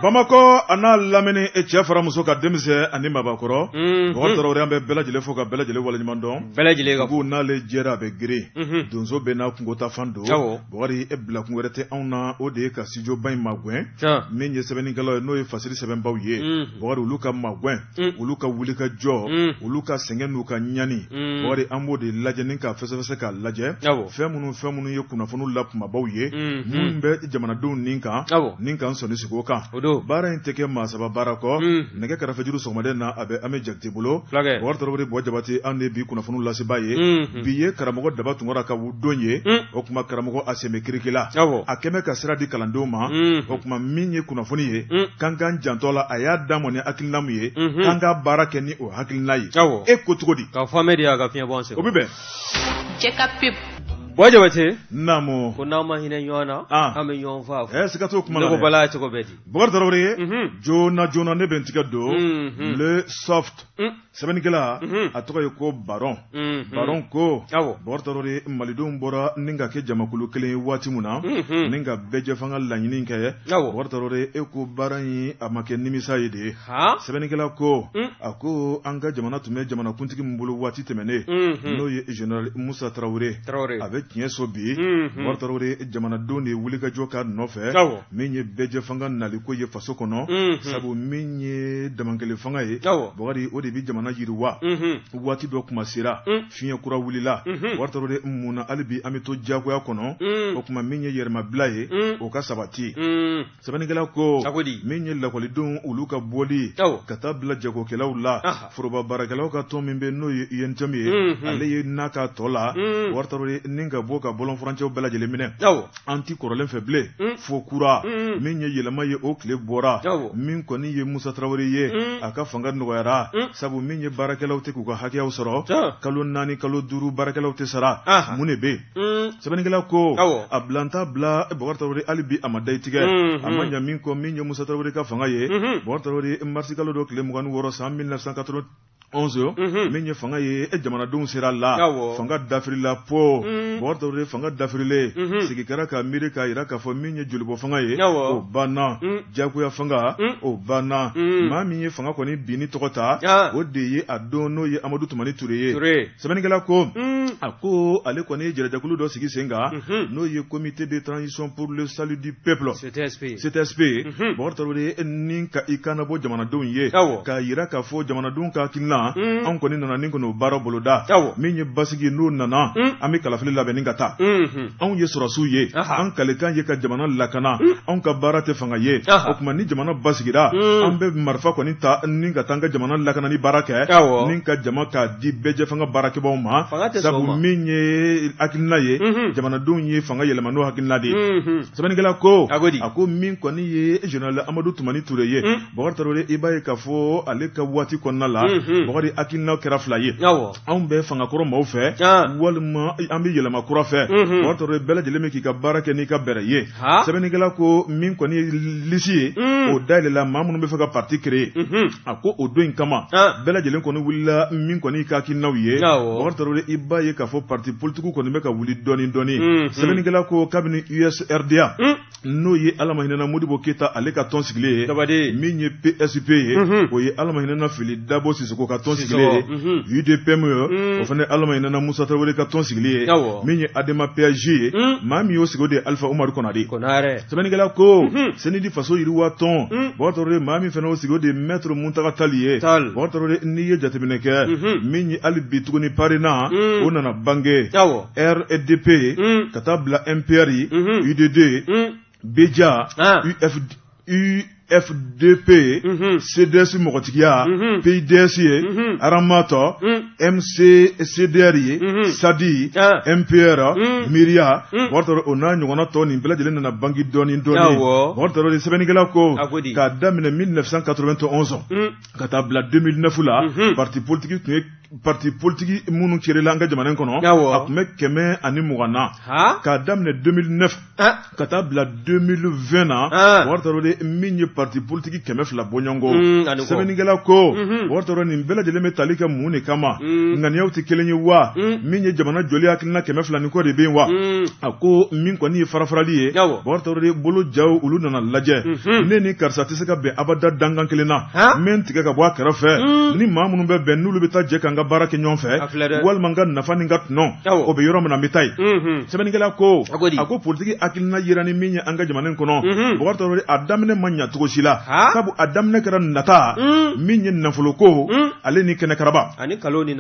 bamakɔ a n'a lamini e cɛ fara muso ka denmisɛn ani mabakɔrɔ mhm. bakari tarawele an bɛ bɛɛ lajɛlen fo ka bɛɛ lajɛlen waleɲuman dɔn bɛɛ lajɛlen ka n'ale jɛra a bɛ girin mhm. donso bɛɛ n'a kungo taafan don bakari e bilakun wɛrɛ tɛ anw na o de ye ka studio ba in magɛn min ye sɛbɛnnikɛlaw ye n'o ye fasiri sɛbɛnbaw ye mhm. bakari olu ka magɛn Mm. olu ka wuli ka jɔ mm. olu ka sɛgɛn n'u ka ɲani mm. bakari an b'o de lajɛ ni k'a fɛsɛfɛsɛ k'a lajɛ fɛn minnu fɛn minnu ye kunnafoniw la kumabaw ye minnu bɛ jamanadenw nin kan ni k'an sɔnin sigi o kan baara in tɛ kɛ maa saba baara kɔ nɛgɛ karafejuru sɔgɔmaden na a bɛ ami jakite bolo bakari tarawele bɔ jabate an de bi kunnafoniw lasebaa ye bi ye karamɔgɔ daba tunkara ka don ye o tuma karamɔgɔ a sɛbe kirikila a kɛmɛ ka sira di kalandenw ma o tuma min ye kunnafoni ye k'an k'an janto a la a y'a d'an ma ni hakilina min ye k'an ka baara kɛ ni o hakilina ye e ko cogo di ka fɔme de y'a ka fiɲɛ bɔ o bɛ bɛn cɛ ka pe bɔ jabate naamu ko n'aw ma hinɛ ɲɔgɔn na an bɛ ɲɔgɔn faa ɛ siga t'o kuma la ko bala cogo bɛ di bakari tarawele ye joona joona ne bɛ n tigɛ don le soft sɛbɛnnikɛla mhm. a tɔgɔ ye ko baron mhm. baron ko bakari tarawele malidenw bɔra ni ka kɛ jamakulu kelen ye waati min na mhm. ni ka bɛɛjɛfanga laɲini kɛ bakari tarawele e ko baara in a ma kɛ nimisa ye dɛ sɛbɛnnikɛla ko mm. a ko an ka jamana tun bɛ jamanakuntigi min bolo waati tɛmɛnen n'o ye general musa tarawele a bɛ tiɲɛso bi bakari tarawele jamanadenw de ye wulikajɔ k'a nɔfɛ min ye bɛɛjɛfanga nali ko ye faso kɔnɔ mhm. sabu min ye damankele fanga ye bakari o de bɛ jamana yiriwa mhm. waati dɔ kuma sera mhm. fiɲɛ kura wulila bakari tarawele mun na hali bi an bɛ to diyagoya kɔnɔ o tuma min ye yɛrɛmabila ye o ka sabati sɛbɛnnikɛla ko min ye lakɔlidenw olu ka bɔli ka taa bila jagokɛlaw la foroba baarakɛlaw ka tɔn min bɛ n'o ye UNTM ye ale ye n'a ka tɔ la bakari tarawele ni ka bɔ ka bɔlɔnfurancɛw bɛɛ lajɛlen minɛ an tɛ kɔrɔlen fɛ bilen mm. fo kura mm. min ye yɛlɛma ye o tile bɔra min kɔni ye musa tarawele ye mm. a ka fanga nɔgɔyara sabu min ye baarakɛlaw tɛ k'u ka hakɛyaw sɔrɔ kalo naani kalo duuru baarakɛlaw tɛ sara mun de bɛ yen sɛbɛnnikɛla ko a bilanta bila bakari tarawele hali bi a ma dayi tigɛ mm-hmm. a ma ɲa min kɔ min ye musa tarawele ka fanga ye mm-hmm. bakari tarawele marisi kalo dɔ tile mugan ni wɔɔrɔ san 1980 11 mhm. min ye fanga ye e jamanadenw sera a la fanga dafirila po mhm. bakari tarawele fanga dafirilen mhm. sigi kɛra ka miiri k'a yira k'a fɔ min ye jolibɔ fanga ye o banna jagoya fanga o banna maa min ye fanga kɔni binni tɔgɔ ta ah. o de ye a don n'o ye amadu tumani ture ye sɛbɛnnikɛla ko a ko ale kɔni ye jɛrɛjɛkulu dɔ sigi sen kan n'o ye comité de transition pour le salut du peuple ctsp bakari tarawele ni ka i kan bɔ jamanadenw ye k'a jira k'a fɔ jamanadenw ka hakilina anw kɔni nana ni kɔni baara boloda min ye basisigi n'o nana an bɛ kalafili labɛn ni ka taa anw ye sɔrɔsiw ye an kalikan ye ka jamana lakana anw ka baara tɛ fanga ye o tuma ni jamana basigira an bɛ marifa kɔni ta ni ka taa an ka jamana lakana ni baara kɛ ni ka jama k'a di bɛɛjɛ fanga baarakɛbaaw ma sabu min ye hakilina ye jamanadenw ye fanga yɛlɛma n'o hakilina de ye sɛbɛnnikɛla ko a ko di a ko min kɔni ye général amadu tumani ture ye hmm. bakari tarawele i b'a ye k'a fɔ ale ka waati kɔnɔna la hmm, hmm. bakari hakilinaw kɛra fila ye anw bɛ fangakɔrɔ maaw fɛ ah. walima an bɛ yɛlɛma kura fɛ bakari tarawele bɛɛ lajɛlen bɛ k'i ka baara kɛ n'i ka bɛrɛ ye sɛbɛnnikɛla ko min kɔni ye lisi ye o dayɛlɛla maa minnu bɛ fɛ ka parti créer a ko o don in kama bɛɛ lajɛlen kɔni wulila min kɔni ka hakilinaw ye bakari tarawele i b'a ye k'a fɔ parti politique kɔni bɛ ka wuli dɔɔni dɔɔni mm, mm. sɛbɛnnikɛla ko kabini usrda mm. n'o ye alamahinɛna modibo keyita ale ka tɔn sigilen ye min ye psp ye mm-hmm. o ye alamahinɛna fili dabo sisoko ka tɔn sigilen ye mm-hmm. udpm ye o fana alamahinɛna musa tarawele ka tɔn sigilen ye min ye adema pasj ye maa min y'o sigi o de ye alifa umaru kɔnare sɛbɛnnikɛla ko senidi faso yiriwa tɔn bakari tarawele maa min fana y'o sigi o de ye mɛtiri muntaga tali ye bakari tarawele n'i ye jateminɛ kɛ min ye hali bi tuguni parena o nana bange rdp ka taa bila mpr udd bdia ufd fdp mhm. cds mɔgɔtigiya mhm. pids ye mhm. ramat mccdr ye sadi ah. mpr miria bakari tarawele o n'a ɲɔgɔnna tɔn nin bɛɛ lajɛlen nana bangi dɔɔni dɔɔni bakari tarawele sɛbɛnnikɛla ko k'a daminɛ 1991 ka taa bila 2009 la parti politique tun ye parti politique minnu créer la an ka jamana in kɔnɔ a tun bɛ kɛmɛ ani mugan na k'a daminɛ 2009 ka taa bila 2020 na bakari tarawele min ye parti politique kɛmɛ fila bɔɲɔgɔnko mm, sɛbɛnnikɛla ko mhm. bakari tarawele nin bɛɛ lajɛlen bɛ tali kɛ mun de kama mm. ŋaniyaw tɛ kelen ye wa mm. min ye jamana jɔli hakilina kɛmɛ fila ni kɔ de bɛ yen wa a ko min kɔni ye farafarali ye bakari tarawele bolo jaw olu nana lajɛ mhm. ne ni karisa tɛ se ka bɛn abada dankan kelen na n bɛ n tigɛ ka bɔ a kɛrɛfɛ ni maa minnu bɛ bɛn n'olu bɛ taa jɛ k'an ka baara kɛ ɲɔgɔn fɛ walima n ka nafa ni n ka tɔnɔ o bɛ yɔrɔ min na n bɛ taa yen sɛbɛnnikɛla ko a ko politigi hakilina jira ni min ye an ka jamana kɔnɔ bakari tarawele a daminɛ ma ɲɛ cogo si la sabu a daminɛ kɛra nata min ye nafoloko ale ni kɛnɛkaraba ani nkalon ni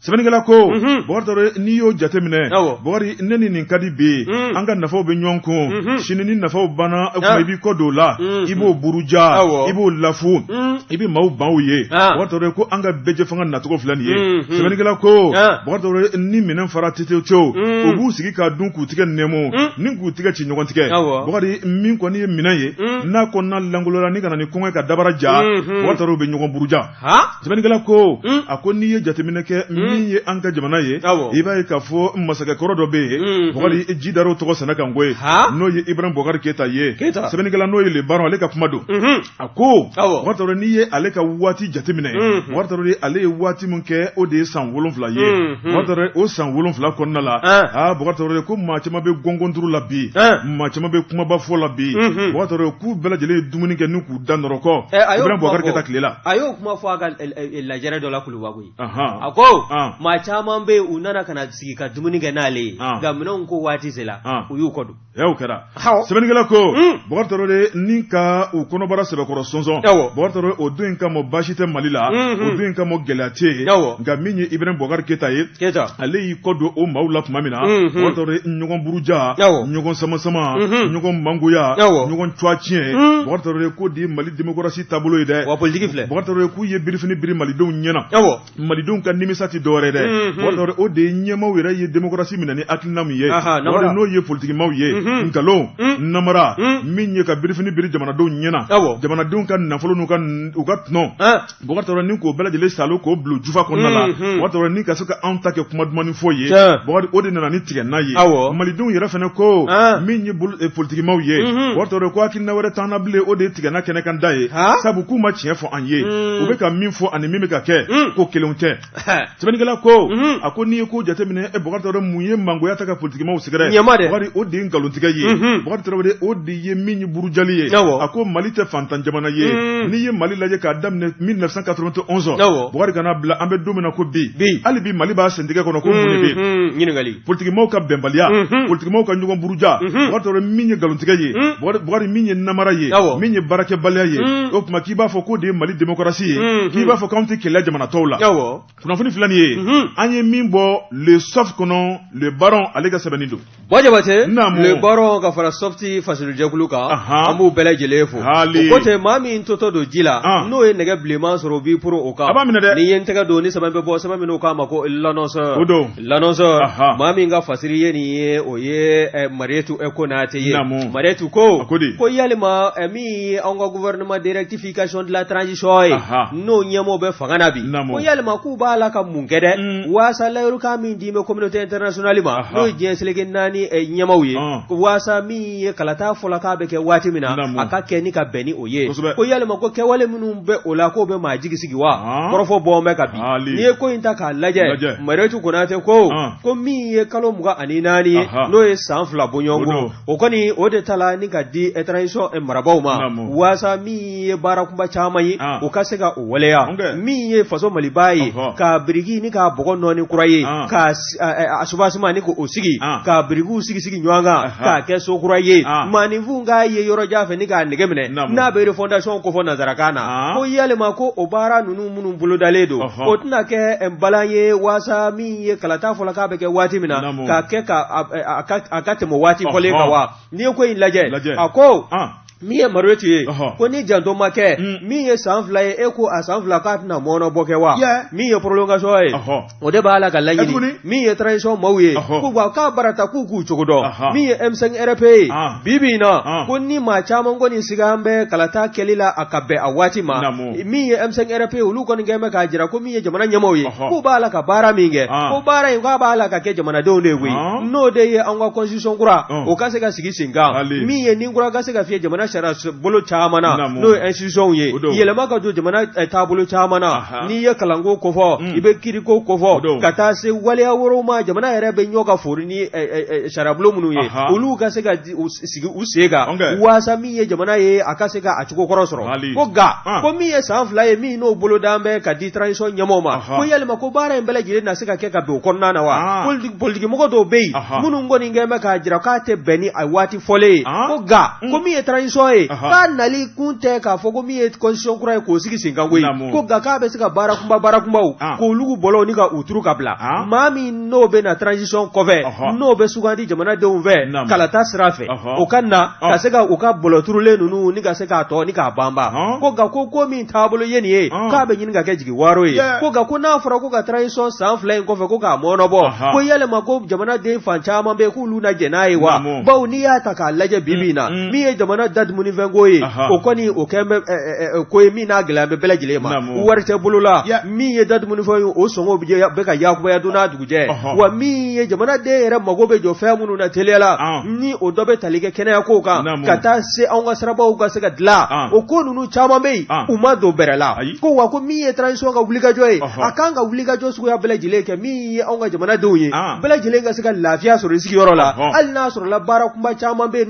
sɛbɛnnikɛla ko mhm. bakari n'i y'o jateminɛ bakari ne ni nin ka di bi mhm. an ka nafaw bɛ ɲɔgɔn kun mhm. sini ni nafaw banna o kuma i b'i kɔ don o la i b'o buruja i b'o lafu i bɛ maaw ban o ye ah. bakari ko an ka bɛɛjɛ fanga nacogo filɛ nin ye sɛbɛnnikɛla ko ah. bakari ni minɛn fara tetew u b'u sigi k'a dun k'u tigɛ nɛmu ni k'u tigɛ ci ɲɔgɔn tigɛ bakari min kɔni ye minɛn ye n'a kɔnɔna lankolola ni ka na ni kɔngɔ ka dabara ja bakari bɛ ɲɔgɔn buruja sɛbɛnnikɛla ko a ko n'i ye jateminɛ kɛ min ye an ka jamana ye i b'a ye k'a fɔ masakɛ kɔrɔ dɔ bɛ yen bakari ji dar'o tɔgɔ sɛnɛ kan koyi n'o ye ibrahima bukari keyita ye sɛbɛnnikɛla n'o ye le baron ale ka kuma don a ko bakari n'i ye ale ka waati jateminɛ bakari ale ye waati min kɛ o de ye san wolonwula ye o san wolonwula kɔnɔna la aa bakari ko maa caman bɛ gɔngɔnturu la bi maa caman bɛ kumabafɔ la bi k'u bɛɛ lajɛlen ye dumuni kɛ Da nɔrɔkɔ ibrahima bukari keyita tile la a y'o kuma fɔ a ka lajɛ dɔ la kuluba koyi a ko maa caman bɛ u nana ka sigi ka dumuni kɛ n'ale ye nka minɛn ko waati sera u y'u kɔ don o kɛra sɛbɛnnikɛla ko bakari tarawele ni ka u kɔnɔbara sɛbɛkɔrɔ sɔnsɔn bakari tarawele o don in kama baasi tɛ mali la o don in kama gɛlɛya tɛ yen nka min ye ibrahima bukari keyita ye ale kɔ don o maaw la tuma min na bakari tarawele ɲɔgɔn buruja ɲɔgɔn sama sama ɲɔgɔn mangoya ɲɔgɔn cwa tiɲɛ bakari k'o de ye mali demokarasi taabolo ye dɛ bakari tarawele k'u ye birifini biri malidenw ɲɛna malidenw ka nimisa tɛ dɔwɛrɛ dɛ bakari o de ye ɲɛmaaw yɛrɛ ye demokarasi minɛ ni hakilina min ye n'o ye politikimaw ye nkalon namara min ye ka birifini biri jamanadenw ɲɛna jamanadenw ka nafolo n'u ka tɔn Bakari ni k'o bɛɛ lajɛlen saalo k'o bil'u jufa kɔnɔna la mhm. Bakari ni ka se ka anw ta kɛ kuma dumannin fɔ ye Bakari o de nana ni tigɛna ye malidenw yɛrɛ fana ko ah. min ye eh, politikimaw ye mhm. Bakari ko hakilina wɛrɛ t'an na bilen o de ye tigɛna kɛnɛ kan da ye sabu k'u ma tiɲɛ fɔ an ye mhm. u bɛ ka min fɔ ani min bɛ ka kɛ ko kelenw tɛ sɛbɛnnikɛla ko a ko n'i ye ko jateminɛ e bakari tarawele mun ye mangoya ta ka politikimaw sɛgɛrɛ bakari o de ye nkalontigɛ ye bakari tarawele o de ye min ye burujali ye a ko mali tɛ fantan jamana ye n'i ye mali lajɛ k'a daminɛ 1991 bakari ka na bila an bɛ don min na ko bi hali bi mali b'a sentigɛ kɔnɔ ko mun de bɛ yen ɲininkali politikimaw ka bɛnbaliya mhm. politikimaw ka ɲɔgɔn buruja mhm. bakari tarawele min ye nkalontigɛ ye mhm. bakari min ye namara ye min ye baarakɛbaliya ye o tuma k'i b'a fɔ k'o de ye mali demokarasi ye k'i b'a fɔ k'anw tɛ kɛlɛ jamana tɔw la kunnafoni filɛ nin ye an ye min bɔ le soft kɔnɔ le baron ale ka sɛbɛnni don bɔ jabatɛ le baron ka fara softi fasilujɛkulu kan an b'u bɛɛ lajɛlen fo o ko tɛ maa min totɔ don ji la ah. n'o ye nɛgɛ bilenman sɔrɔ o b'i poron o kan a b'a minɛ dɛ n'i ye n tɛgɛ don ni sɛbɛn bɛ bɔ sɛbɛn min k'a ma ko lanɔsɔ o don L'Annonceur maa min ka fasiri ye nin ye o ye Marietu Konatɛ ye Marietu ko ko yalima min ye an ka gouvernement de rectification de la transition ye n'o ɲɛmɔgɔw bɛ fanga na bi ko yalima k'u b'a la ka mun kɛ dɛ waasa layirukan min di bɛ communauté internationale ma n'o ye diɲɛ seleke naani ɲɛmaaw ye waasa min ye kalata fɔlɔ k'a bɛ kɛ waati min na a ka kɛ ka bɛn o ye ko yalima ko kɛwale minnu bɛ o la k'o bɛ maa jigi sigi wa ah. kɔrɔfɔ bɔn bɛ ka bi ah, n'i ye ko in ta k'a lajɛ Marietu Konatɛ ko ah. ko min ye kalo mugan ani naani ye n'o ye san fila bɔɲɔgɔn o kɔni o de ta la ni ka di transition eh, marabaw ma waasa min ye baara kunba caman ye o ka se ka o waleya min ye faso Maliba ye k'a biriki ni k'a bɔgɔ nɔɔni kura ye a subasima ni k'o sigi ah. ka birikiw sigi sigi ɲɔgɔn kan k'a kɛ so kura ye ah. maaninfin k'a ye yɔrɔ jan fɛ ni k'a nege minɛ n'a bɛ refondation kofɔ nanzarakan na ah. ko yalima ko o baara ninnu minnu bolodalen don o tɛna kɛ eh, balan ye waasa min ye kalata fɔlɔ k'a bɛ kɛ waati min na k'a kɛ a ka tɛmɛ waati fɔlen kan wa n'i ye ko in lajɛ a ko min ye Marietu ye ko ni janto ma kɛ mm. min ye san fila ye e ko a san fila k'a tɛna mɔɔnɔbɔ kɛ wa min ye prolongation ye o de b'a la ka laɲini min ye transition maaw ye k'u ka k'a barata k'u k'u cogo dɔn min ye M5 RFP ye ah. bi bi in na ah. ko ni maa caman kɔni sigan bɛ kalata kɛli la a ka bɛn a waati ma min ye M5 RFP ye olu kɔni kɛn bɛ k'a jira ko min ye jamana ɲɛmaaw ye k'u b'a la ka baara min kɛ ko baara in k'a b'a la ka kɛ jamanadenw de ye koyi n'o de ye an ka constitution kura o ka se ka sigi sen kan min ye ni kura ka se ka fiyɛ jamana sariya bolo caman na n'o ye institution ye yɛlɛma ka don jamana taabolo caman na n'i ye kalanko kofɔ i bɛ kiiriko kofɔ ka taa se waleya wɛrɛw ma jamana yɛrɛ bɛ ɲɔ ka fori ni sariyabulon minnu ye olu ka se ka sigi u sen kan waasa min ye jamana ye a ka se ka a cogo kɔrɔ sɔrɔ ko nka ah. ko min ye san fila ye min n'o bolodan bɛ ka di transition ɲɛmɔgɔw ma ko yalima ko baara in bɛɛ lajɛlen na se ka kɛ ka don o kɔnɔna na wa ah. politikimɔgɔ dɔw bɛ yen minnu kɔni kɛn bɛ k'a jira k'a tɛ bɛn ni a waati fɔlen ye ah. ko nka ko mm. min ye transition ye k'a nali kun tɛ k'a fɔ ko min ye constitution kura ye k'o sigi sen kan koyi ko nka k'a bɛ se ka baara kunba baara kunbaw k'olu bɔlɔw ni ka u turu ka bila maa min n'o bɛ na transition kɔfɛ n'o bɛ sugandi jamanadenw fɛ kalata sira fɛ o ka na ka se ka u ka bɔlɔ turulen ninnu ni ka se k'a tɔ ni k'a banba ko nka ko ko min taabolo ye nin ye k'a bɛ ɲini ka kɛ jigiwaaro ye ko nka ko n'a fɔra ko ka transition san fila in kɔfɛ ko k'a mɔɔnɔbɔ ko yalima ko jamanaden fan caman bɛ k'olu na jɛn n'a ye wa bawo n'i y'a ta k'a lajɛ bi bi in na min ye jamana dadumuni fɛnko ye o kɔni o kɛn bɛ ko ye min na gɛlɛya bɛ bɛɛ lajɛlen ma wari tɛ bolo la min ye dadumunifɛn ye o sɔngɔ bɛ ka yakubaya don n'a dugujɛ wa min ye jamanaden yɛrɛ mago bɛ jɔ fɛn minnu na teliya la ni o dɔ bɛ tali kɛ kɛnɛyako kan ka taa se anw ka sirabaw ka se ka dilan o ko ninnu caman bɛ yen u ma don bɛrɛ la ko wa ko min ye transition ka wulikajɔ ye a kan ka wulikajɔ suguya bɛɛ lajɛlen kɛ min ye anw ka jamanadenw ye bɛɛ lajɛlen ka se ka lafiya sɔrɔ i sigiyɔrɔ la hali n'a sɔrɔla baara kunba caman bɛ yen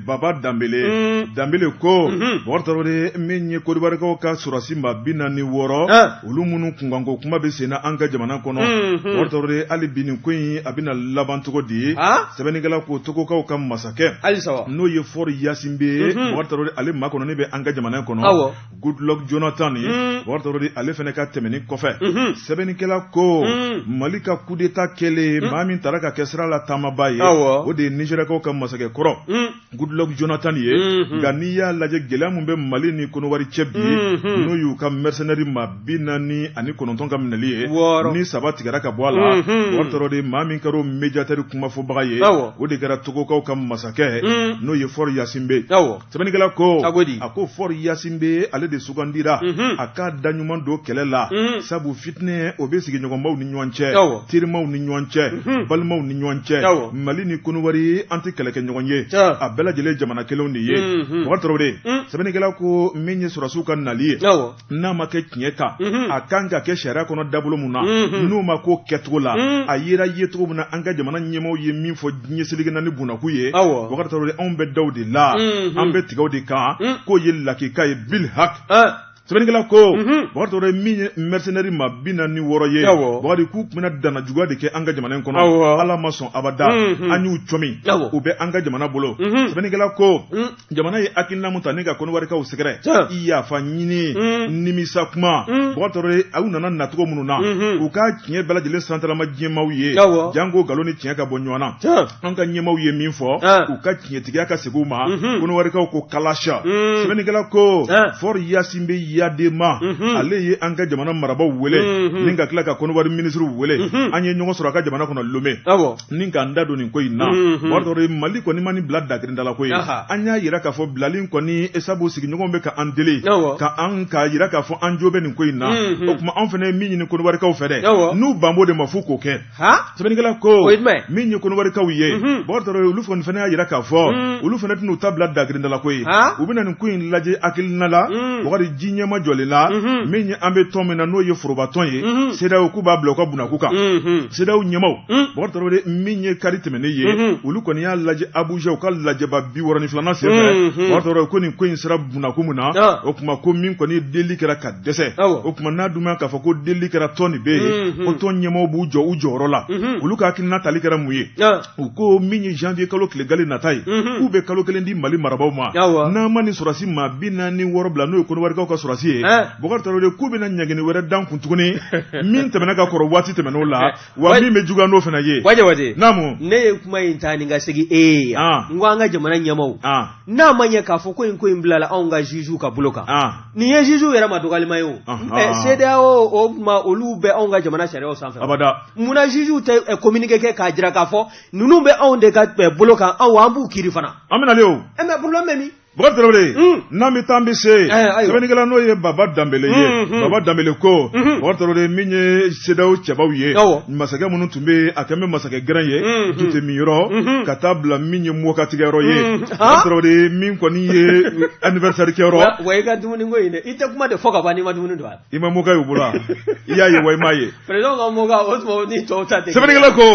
baba danbele mm. danbele ko mm -hmm. bakari tarawele min ye kodibarikaw ka sɔrɔsi maa bi naani ni wɔɔrɔ ah. olu minnu kunkanko kuma bɛ senna an ka jamana kɔnɔ mm -hmm. bakari tarawele hali bi nin ko in a bɛna laban cogo di ah. sɛbɛnnikɛla ko togokaw ka masakɛ n'o ye faure gnassingbé ye mm -hmm. bakari tarawele ale makɔnɔni bɛ an ka jamana kɔnɔ goodluck jonathan ye mm. bakari tarawele ale fana ka tɛmɛni kɔfɛ mm-hmm. sɛbɛnnikɛla ko mm. mali ka kudeta kɛlen mm. maa min tara ka kɛ sira la taamaba ye o de ye nizeriyakaw ka masakɛ kɔrɔ goodluck jonathan ye mm-hmm. nka n'i y'a lajɛ gɛlɛya min bɛ mali ni konowari cɛ bi mm-hmm. n'o y'u ka mɛrisɛnɛri maa bi naani ani kɔnɔntɔn ka minɛli ye ni saba tigɛra ka bɔ a la bakari tarawele maa min kɛra o mediyatɛri kumafɔbaga ye o de kɛra togokaw ka masakɛ n'o ye faure gnassingbé sɛbɛnnikɛla ko a ko di a ko faure gnassingbé ale de sugandira mhm. a k'a da ɲuman don kɛlɛ la mhm. sabu fitinɛ o bɛ sigiɲɔgɔnbaw ni ɲɔgɔn cɛ terimaw ni ɲɔgɔn cɛ mhm. balimaw ni ɲɔgɔn cɛ mali ni konowari an tɛ kɛlɛkɛɲɔgɔn ye a bɛɛ lajɛlen jamana kelenw de ye bakari tarawele sɛbɛnnikɛla ko min ye sɔrɔsiw ka nali ye n'a ma kɛ tiɲɛ kan mhm. a kan ka kɛ sariya kɔnɔ dabolo min na mhm. n'o ma k'o kɛcogo la mhm. a yera yecogo min na an ka jamana ɲɛmaaw ye min fɔ ɲɛsilikɛ na ni bunakun ye bakari tarawele anw bɛ da o de la an bɛ tigɛ o de kan k'o ye lakika ye bil hak eh. sɛbɛnnikɛla ko bakari tarawele min ye mercenaire maa bi naani ni wɔɔrɔ ye bakari k'u tun bɛna danajuguya de kɛ an ka jamana in kɔnɔ ala ma sɔn abada an y'u cɔmi u bɛ an ka jamana bolo sɛbɛnnikɛla ko jamana ye hakilina min ta ni ka koniwarikaw sɛgɛrɛ i yafa ɲini mm. nimisa kuma mm. bakari tarawele aw nana nacogo minnu na mm-hmm. u ka tiɲɛ bɛɛ lajɛlen santalama diɲɛmaaw ye janko nkalon ni tiɲɛ ka bɔ ɲɔgɔn na an ka ɲɛmaaw ye min fɔ u ka tiɲɛtigiya ka segin u ma mm-hmm. koniwarikaw ko kalasa mm. sɛbɛnnikɛla ko faure gnassingbé eyadéma mm-hmm. ale ye an ka jamana marabaw wele ni ka tila ka koniwari minisiriw wele an ye ɲɔgɔn sɔrɔ a ka jamana kɔnɔ lome ni ka n da don nin ko in na bakari mali kɔni ma nin bila dakirinda ko ye an y'a jira k'a fɔ bilali kɔni sabu sigiɲɔgɔnw bɛ ka an deli ka an ka jira k'a fɔ an jo bɛ nin ko in na o tuma anw fana ye min ɲini konowarikaw fɛ dɛ n'u banbo de ma fo k'o kɛ sɛbɛnnikɛla ko min ye konowarikaw ye bakari olu kɔni fana y'a jira k'a fɔ olu fana tɛna u ta bila dakirinda ko ye u bɛna nin ko in lajɛ hakilina la wagati diɲɛmaa jɔlen la min an bɛ tɔn min na n'o ye forobatɔn ye cedeao k'u b'a bila u ka bolo kan CEDEAO ɲɛmaaw, un, Bokari Tarawele min ye kari tɛmɛnen ye, unhun, olu kɔni y'a lajɛ Abuja u ka lajɛba bi wɔɔrɔ ni filanan senfɛ, unhun, Bokari Tarawele ko nin ko in sera bunako min na, an, o tuma ko min kɔni delili kɛra ka dɛsɛ, awɔ, o tuma n'a dun ma k'a fɔ ko delili kɛra tɔn nin bɛ yen, unhun, ko tɔn ɲɛmaaw b'u jɔ u jɔyɔrɔ la, unhun, olu ka hakilina tali kɛra mun ye? an, u ko min ye janvier kalo tile gale nata ye unhun, k'u bɛ kalo kelen di Mali marabaaw ma Awɔ. n'an ma nin sɔrɔdasi maa bi naani ni wɔɔrɔ bila n'o ye kɔnɔwarikaw ka sɔrɔdasi ye Ɛn. Bokari Tarawele k'u bɛna ɲangini wɛrɛ da an kun tuguni min tɛmɛna ka kɔrɔ waati tɛmɛn'o la wa min bɛ juguya n'o fana ye. Wa Jabate. Naamu. Ne ye kuma in ta ni ka segin e ye yan. An. N ko an ka jamana ɲɛmaaw. An. N'a ma ɲɛ k'a fɔ ko in ko in bilala anw ka juges ka bolo kan. An. Nin ye juges yɛrɛ ma dɔgɔyalima ye o. Ɔnhɔn. Ɛ CEDEAO o tuma olu bɛ anw ka jamana sariyaw sanfɛ. Abada. Munna juges tɛ ɛ communiqué kɛ k'a jira k'a fɔ ninnu bɛ anw de ka ɛ bolo kan anw an b'u kiiri fana. An bɛ nalen o. Ɛ mais problème bɛ min? Bokari Tarawele, un, n'an bɛ taa an bɛ se yen, ɛɛ, ayiwa. sɛbɛnnikɛla n'o ye Baba Danbele ye, Un, un. Baba Danbele ko, Mhm. Bokari Tarawele min ye CEDEAO cɛbaw ye, Awɔ. masakɛ minnu tun bɛ yen, a kɛlen bɛ masakɛ gɛrɛn ye, Mhm. dute min yɔrɔ, Mhm. ka taa bila min ye mɔkatigɛ yɔrɔ ye, Mhm. Bokari Ah. Tarawele min kɔni ye anniversaire kɛ yɔrɔ, Wa wa i ka dumuni ko in dɛ, i tɛ kuma de fɔ ka ban n'i ma dumuni don a la. i ma moka y'u bolo i y'a ye wa i m'a ye président ka moka o tuma ni tɔw ta tɛ sɛbɛnnikɛla ko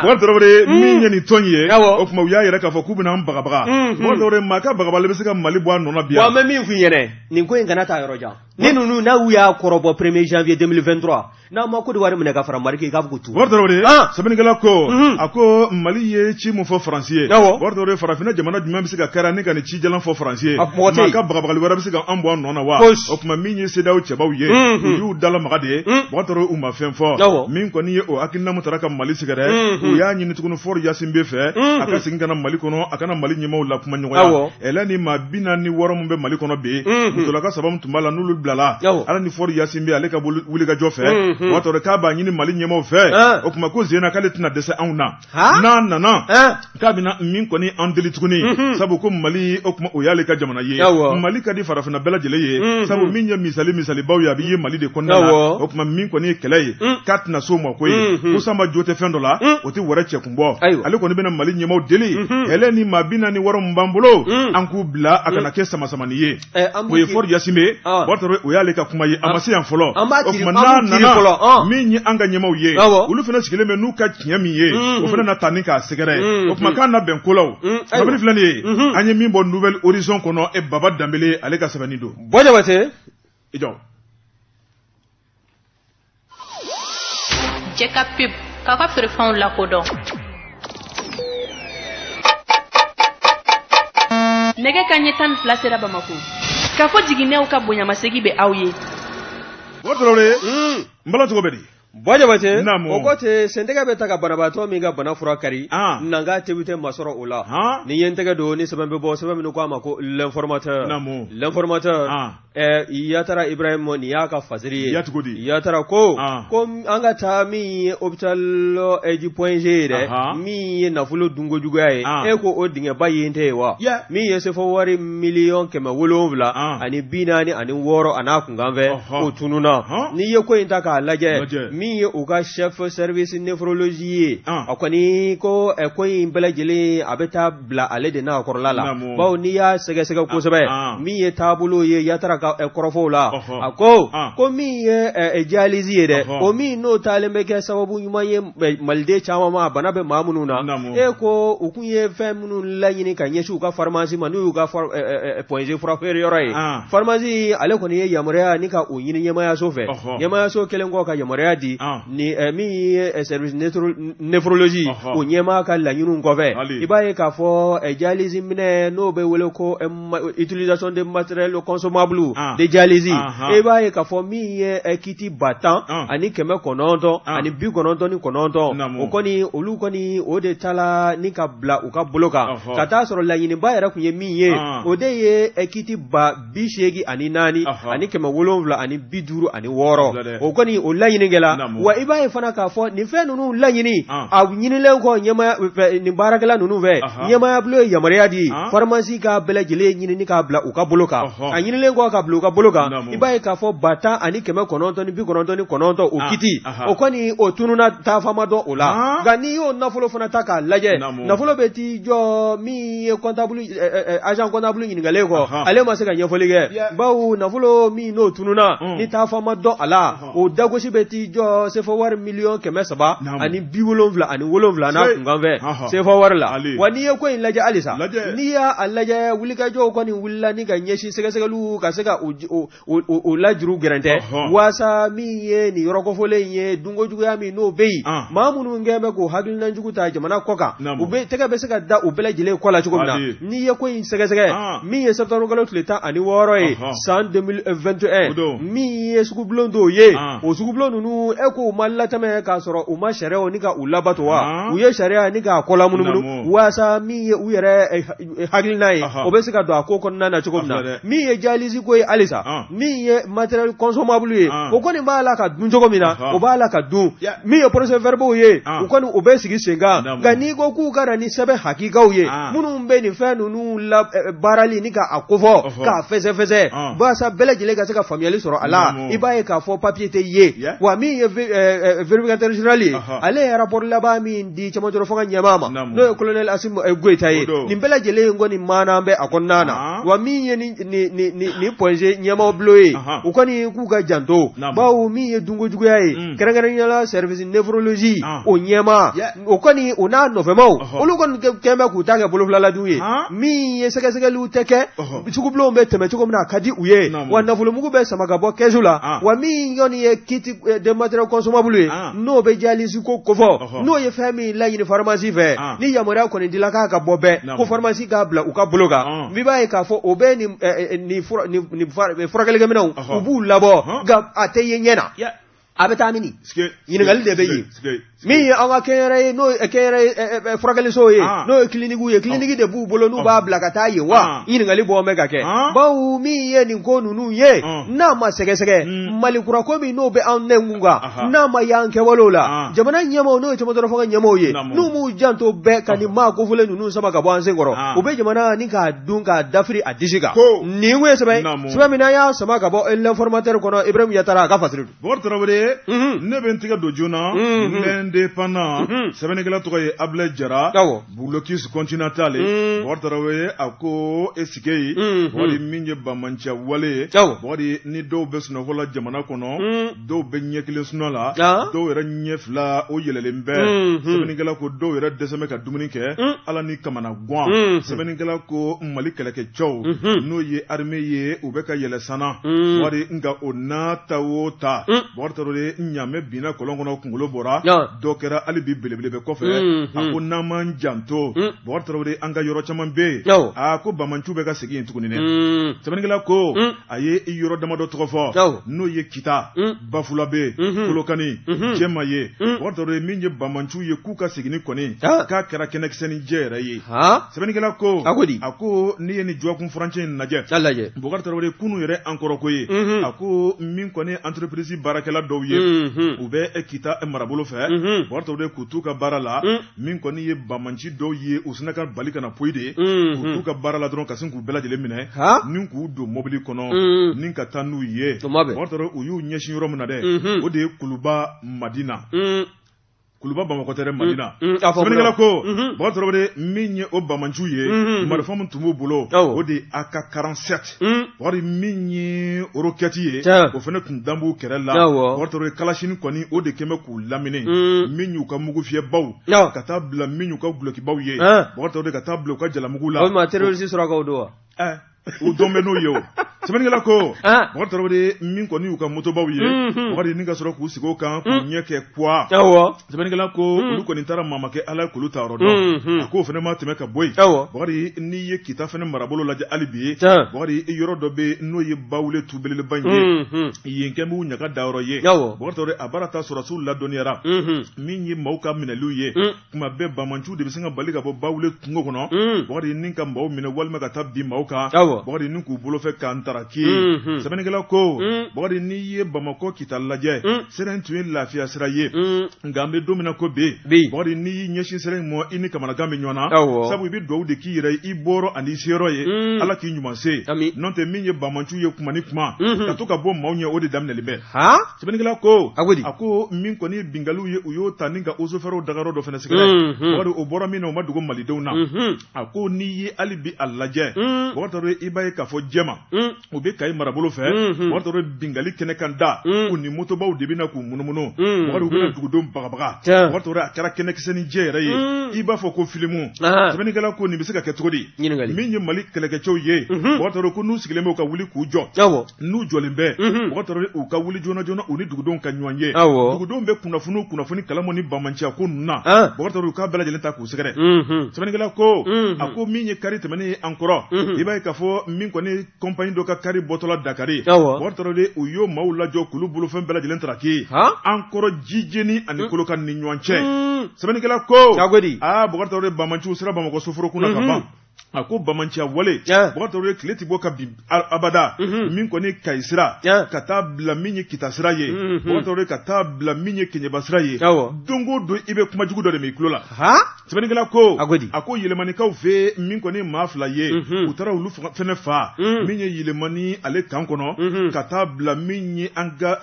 bokari tarawele min ye nin tɔn ye o tuma u y'a yira k'a fɔ k'u bɛna an bagabaga bokari tarawele maa ka bagabagali bɛ se ka mali bɔ a nɔ na bi wa n bɛ min f'i ɲɛna nin ko in kana taa yɔrɔ jan ni ninnu n'u y'a kɔrɔbɔ premier janvier 2023 n'an ma kɔdiwari minɛ ka fara mali kan i k'a fɔ ko tu bokari tarawele sɛbɛnnikɛla ko a ko mali ye ci min fɔ faransi ye bokari tarawele farafinna jamana jumɛn bɛ se ka kɛra ni ka nin ci jalan fɔ faransi ye maa ka bagabagali wɛrɛ bɛ se ka an bɔ an nɔ na wa o tuma min ye CEDEAO cɛbaw ye u y'u dalamaga de ye bokari tarawele u ma fɛn fɔ min kɔni ye o hakilina min taara ka mali sɛgɛrɛ u y'a ɲini tuguni Faure Gnassingbé fɛ a ka segin ka na mali kɔnɔ a ka na mali ɲɛmaw lakumaɲɔgɔnya ɛlɛ nin maa bi naani ni wɔɔrɔ min bɛ mali kɔnɔ bi musolaka saba min tun b'a la n'olu bilala ala ni Faure Gnassingbé ale ka wulikajɔ fɛ bokari tarawele k'a b'a ɲini mali ɲɛmaw fɛ o tuma ko zena k'ale tɛna dɛsɛ anw na n'a nana k'a bɛna min kɔni an deli tuguni sabu ko mali o tuma o y'ale ka jamana ye mali ka di farafinna bɛɛ lajɛlen ye sabu min ye misali misalibaw ye a bɛ ye mali de kɔnɔna la o tuma min kɔni ye kɛlɛ ye k'a tɛna so ma ko ye ko sanba jo tɛ fɛn dɔ la o tɛ wɛrɛ cɛ kun bɔ ale kɔni bɛna mali ɲɛmaw deli ɛlɛ nin maa bi naani ni wɔɔrɔ min b'an bolo an k'u bila a kana kɛ samasamani ye Eh, o ye Faure Gnassingbé ye ah. bokari tarawele o y'ale ka kuma ye a ma se yan fɔlɔ o tuma n'a nana ah. min ye an ka ɲɛmaw ye olu fana sigilen bɛ n'u ka tiɲɛ min ye mm. o fana na taa ni k'a sɛgɛrɛ mm. o tuma k'an na bɛn ko la o mm. kabini filɛ nin ye mm-hmm. an ye min bɔ Nouvel Horizon kɔnɔ e baba danbele ale ka sɛbɛnni don bɔ jabate i jɔ jɛ ka pub k'aw ka feerefɛnw lakodɔn nɛgɛ kanɲɛ tan ni fila sera bamako k'a fɔ jiginnɛw ka bonyamasegi bɛ aw ye bokar traoré n bala cogo bɛ di bɔ jabate Naamu. o ko ten sentɛgɛ bɛ ta ka banabaatɔ min ka bana fura kari Ah. nanka tebi tɛ masɔrɔ o la Han. ni ye n tɛgɛ don ni sɛbɛn bɛ bɔ sɛbɛn min ko a ma ko l'informateur Naamu. l'informateur Ah. Ɛɛ yatara ibrahima nin y'a ka fasiri ye ya cogo di yatara ko ko an ka taa min ye hôpital du point G ye dɛ min ye nafolo dunkojuguya ye e ko o dingɛba ye tɛ ye wa min ye sefɔ wari miliyɔn kɛmɛ wolonwula ani bi naani ani wɔɔrɔ ani a kunkanfɛn o tununna n'i ye ko in ta k'a lajɛ min ye u ka chef service néphrologie ye a kɔni ko ko in bɛɛ lajɛlen a bɛ taa bila ale de n'a kɔrɔla la bawo n'i y'a sɛgɛsɛgɛ kosɛbɛ ah, ah. min ye taabolo ye yatara ka eh, kɔrɔfɔw la a ko ah. ko min ye eh, eh, dialyse ye dɛ o min n'o taalen bɛ kɛ sababu ɲuman ye maliden caman ma bana bɛ maa minnu na e ko u kun ye fɛn minnu laɲini ka ɲɛsin u ka farimasi ma n'u y'u ka point G furafeere yɔrɔ ye farimasi ale kɔni ye yamaruya ni ka o ɲini ɲɛmaayaso fɛ ɲɛmaayaso kɛlen kɔ ka yamaruya di ni min ye sɛriwisi néphrologie o ɲɛmaa ka laɲiniw kɔfɛ i b'a ye k'a fɔ dialyse minɛn n'o bɛ wele ko utilisation de matériel consommable de dialyse i b'a ye k'a fɔ min ye kiti ba tan ani kɛmɛ kɔnɔntɔn ani bi kɔnɔntɔn ni kɔnɔntɔn o kɔni olu kɔni o de taala ni ka bila u ka bolo kan ka t'a sɔrɔ laɲiniba yɛrɛ tun ye min ye o de ye kiti ba bi seegin ani naani ani kɛmɛ wolonwula ani bi duuru ani wɔɔrɔ o kɔni o laɲini kɛla wa i b'a ye fana k'a fɔ nin fɛn ninnu laɲini a ɲinilen kɔ ɲɛmaya nin baarakɛla ninnu fɛ ɲɛmayabolo ye yamaruya di farimasi ka bɛɛ lajɛlen ɲini ni k'a bila u ka bolo kan a ɲinilen kɔ ka bila u ka bolo kan i b'a ye k'a fɔ ba tan ani kɛmɛ kɔnɔntɔn ni bi kɔnɔntɔn ni kɔnɔntɔn o kiti o kɔni o tununna taafan ma dɔn o la nka n'i y'o nafolo fana ta k'a lajɛ nafolo bɛ t'i jɔ min ye kɔntabulu agent comptable ɲininkalen kɔ ale ma se ka ɲɛfɔli kɛ bawo nafolo min n'o tununna mm. ni taafan ma dɔn a la o dagosi bɛ t'i jɔ sefa wari miliyɔn kɛmɛ saba ani bi wolonwula ani wolonwula n'a kunkanfɛn sefa wari la wa n'i ye ko in lajɛ halisa n'i y'a lajɛ wulikajɔw kɔni wulila ni ka ɲɛsin sɛgɛsɛgɛliw ka se ka o lajuru gɛrɛntɛ walasasa min ye nin yɔrɔ kofɔlen in ye dunkojuguya min n'o bɛ yen maa minnu kɛlen bɛ k'o hakilina jugu ta jamana kɔ kan u bɛ tɛgɛ bɛ se ka da u bɛɛ lajɛlen kɔ la cogo min na n'i ye ko in sɛgɛsɛgɛ min ye septembre kalo tile tan ani wɔɔrɔ ye san deux mille vingt et un min ye sugubulon dɔw ye o sugubulon ninnu e k'u ma latɛmɛ k'a sɔrɔ u ma sariya ni ka u labato wa u ye sariya ni k'a kɔ lamunumunu walasasa min ye u yɛrɛ hakilina ye o bɛ se ka don a ko kɔnɔna na cogo min na min ye dialyse ko ye halisa min ye matériel consommable ye o kɔni b'a la ka dun cogo min na o b'a la ka dun min ye procès verbaux ye u kɔni u bɛ sigi sen kan nka n'i ko k'u ka na ni sɛbɛn hakikaw ye minnu bɛ nin fɛn ninnu labaarali ni k'a kofɔ k'a fɛsɛfɛsɛ walasa bɛɛ lajɛlen ka se ka faamuyali sɔrɔ a la i b'a ye k'a fɔ papier tɛ ye wa min ye vérificateur général ye ale ye rapport laban min di cɛmancɛrɔ fanga ɲɛmaa ma Naamu. n'o ye colonel Asim eh, Goyita ye O don. nin bɛɛ lajɛlen ye kɔni maana bɛ a kɔnɔna na Ahan. wa min ye ni ni ni ni ni Point G ɲɛmaaw bulon ye Ahan. u kɔni k'u ka janto Naamu. bawo min ye dunko juguya ye Mm. kɛrɛnkɛrɛnnenya la service néphrologie Ah. o ɲɛmaa Yeah. o kɔni o n'a nɔfɛmaw Ɔhɔ. olu kɔni kɛ- kɛn bɛ k'u ta kɛ bolofilaladuw ye Han. min ye sɛgɛsɛgɛliw tɛ kɛ Ɔhɔ. sugubulonw bɛ tɛmɛ cogo min na a ka di u ye Naamu. wa nafolomugu bɛ sama ka bɔ kɛsu la Ah. wa min kɔni ye kit eh, de matériel consommable ye Ah. n'o bɛ dialyse ko kofɔ n'o ye fɛn min laɲini faramasi fɛ ni yamaruya kɔni dila k'a ka bɔ bɛɛ ko faramasi k'a bila u ka bolo kan i b'a ye k'a fɔ o bɛ furakɛlikɛminɛnw u b'u labɔ nka a tɛ ye ɲɛ na a bɛ taa mini ɲininkali de bɛ yen min ye an ka kɛnyɛrɛ ye n'o ye kɛnyɛrɛ furakɛliso ye n'o ye kiliniki ye kiliniki de b'u bolo n'u b'a bila ka taa yen wa ɲininkali bɔ bɛ ka kɛ bawo min ye nin ko ninnu ye n'a ma sɛgɛsɛgɛ Mali kura ko min n'o bɛ anw nɛnkun kan n'a ma y'an kɛwalew la jamana ɲɛmaaw n'o ye cɛmancɛrɔ fanga ɲɛmaaw ye n'u m'u janto bɛɛ ka nin maa kofɔlen ninnu sama ka bɔ an sen kɔrɔ u bɛ jamana ni k'a dun k'a dafiri a disi kan nin kun ye sɛbɛn sɛbɛn min n'an y'a sama ka bɔ l'informateur kɔnɔ Ibrahim Yatara a ka fasiri don Bokari Tarawele ne bɛ n tigɛ don joona l'Indépendant sɛbɛnnikɛla tɔgɔ ye Abulayi Jara Blocus continental Bokari Tarawele a ko est-ce que Bokari min ye banbanciya wale ye Bokari ni dɔw bɛ sunɔgɔ la jamana kɔnɔ dɔw bɛ ɲɛ kelen sunɔ la dɔw yɛrɛ ɲɛ fila o yɛlɛlen bɛ sɛbɛnnikɛla ko dɔw yɛrɛ dɛsɛ bɛ ka dumuni kɛ ala ni kamanagan sɛbɛnnikɛla ko Mali kɛlɛkɛcɛw n'o ye armée ye u bɛ ka yɛlɛ san na Bokari nka o n'a ta o ta Bokari Tarawele ɲamɛ binna kɔlɔn kɔnɔ kunkolo bɔra dɔ kɛra hali bi belebele bɛ kɔfɛ a ko n'an m'an janto Bokari Tarawele an ka yɔrɔ caman bɛ yen a ko banbanciw bɛ ka segin yen tuguni dɛ sɛbɛnnikɛla ko a ye i yɔrɔ damadɔ tɔgɔ fɔ n'o ye Kita Bafulabe Kolokani Jɛma ye Bokari Tarawele min ye banbanciw ye k'u ka segin kɔni k'a kɛra kɛnɛkisɛ ni jɛ yɛrɛ ye sɛbɛnnikɛla ko a ko di a ko n'i ye nin jɔgɔkun furancɛ in lajɛ Bokari Tarawele kunun yɛrɛ an kɔrɔ ko ye, unhun, a ko min kɔni ye entreprise baarakɛla dɔw ye, unhun, u bɛ Kita marabolo fɛ, unhun, Bokari Tarawele k'u t'u ka baara la, un, min kɔni ye banbanci dɔw ye u sina ka bali ka na poyi de, unhun, k'u t'u ka baara la dɔrɔn ka sin k'u bɛɛ lajɛlen minɛ, han, ni k'u don mɔbili kɔnɔ, un, ni ka taa n'u ye, o ma bɛn, Bokari Tarawele u y'u ɲɛsin yɔrɔ min na dɛ, unhun, o de ye Kuluba Madina, un. kuluba bamakɔ tɛ dɛ madina mm, mm, a fɔ sɛbɛnnikɛla ko mhm. bakari tarawele min ye o bamanciw ye mhm. marifa min tun b'u bolo Awɔ. o de ye ak 47 Mm. bakari min ye orokɛti ye Tiɲɛ. o fana tun dan b'u kɛrɛ la Awɔ. bakari tarawele kalasini kɔni o de kɛn bɛ k'u lamini Mm. min y'u ka mugu fiyɛbaw Awɔ. ka taa bila min y'u ka gulokibaw ye Ɛn. bakari tarawele ka taa bila u ka jalamugu la o ma terroriste surakaw don wa Ɛn. u dɔn bɛ n'o ye o sɛbɛnnikɛla ko ah. Bakari Tarawele min kɔni y'u ka motobaw ye mhm. Bakari ni ka sɔrɔ k'u sigi o kan k'u mhm. ɲɛ kɛ kuwa sɛbɛnnikɛla ko mhm. olu kɔni taara maa ma kɛ Ala ye k'olu taayɔrɔ dɔn a k'o fana ma tɛmɛ ka bɔ yen Bakari n'i ye Kita fana marabolo lajɛ hali bi Bakari yɔrɔ dɔ bɛ n'o ye Bawule tu belebeleba in ye yen kɛn b'u ɲagadayɔrɔ ye Bakari Tarawele a baara ta sɔrɔdasiw ladɔnniyara min ye maaw ka minɛliw ye kuma bɛɛ bamanciw de bɛ se ka bali ka bɔ bawule kungo kɔnɔ mm. bakari ni ka maaw minɛ walima ka taa bin maaw kan bakari ni k'u bolofɛn k'a taraki mm-hmm. sɛbɛnnikɛla ko mm. bakari n'i ye bamakɔ kita lajɛ mm. sira in tun ye lafiya sira ye nka an bɛ don min na ko bi bakari n'i y'i ɲɛsin sira in ma i ni kamanagan bɛ ɲɔgɔn na sabu i bɛ dugawu de k'i yɛrɛ ye i bɔyɔrɔ ani i seyɔrɔ ye ala k'i ɲuman se n'o tɛ min ye bamanciw ye kuma ni kuma mm-hmm. ka to ka bɔ maaw ɲɛ o de daminɛlen bɛ sɛbɛnnikɛla ko a ko di a ko min kɔni ye binkaliw ye u y'o ta ni ka osofɛrɛw dagayɔrɔ dɔ fana sɛgɛrɛ bakari o bɔra min na o ma dogo malidenw na a ko n'i ye hali bi a lajɛ bakari tarawele i b'a ye k'a fɔ jɛma u bɛ kayi marabolo fɛ bakari tarawele binkali kɛnɛ kan da u ni motobaw de bɛ na k'u munumunu bakari u bɛna dugudenw bagabaga bakari tarawele a kɛra kɛnɛkisɛ ni jɛ yɛrɛ ye i b'a fɔ ko filimu sɛbɛnnikɛla ko nin bɛ se ka kɛ cogo di min ye mali kɛlɛkɛcɛw ye bakari tarawele ko n'u sigilen bɛ u ka wuli k'u jɔ n'u jɔlen bɛ mhm. bakari tarawele u ka wuli joona joona u ni dugudenw ka ɲɔgɔn ye dugudenw bɛ kunnafoni o kunnafoni kalama nin bamanciya ko ninnu na bakari tarawele u k'a bɛɛ lajɛlen ta k'u sɛgɛrɛ mhm. sɛbɛnnikɛla ko mhm. a ko min ye kari tɛmɛnen ye an kɔrɔ i b'a ye k'a fɔ min kɔni kɔnpani dɔ ka kari bɔtɔla dakari bakari tarawele u y'o maaw lajɔ k'olu bolofɛn bɛɛ lajɛlen taraki an kɔrɔ jijeni ani kolokan ni ɲɔgɔn cɛ sɛbɛnnikɛla ko aa bakari tarawele bamanciw sera bamakɔ soforokun na ka ban a ko bamanciya wale bakari tarawele tile tɛ bɔ ka bin abada mhm. min kɔni kayi sira ka taa bila min ye kita sira ye mhm. bakari tarawele ka taa bila min ye keɲeba sira ye don o don i bɛ kuma jugu dɔ de mɛn i tulo la sɛbɛnnikɛla ko a ko yɛlɛmanikaw fɛ min kɔni maa fila ye mhm. u taara olu fɛnɛ fa min ye yɛlɛmani ale kan kɔnɔ ka taa bila min ye an ka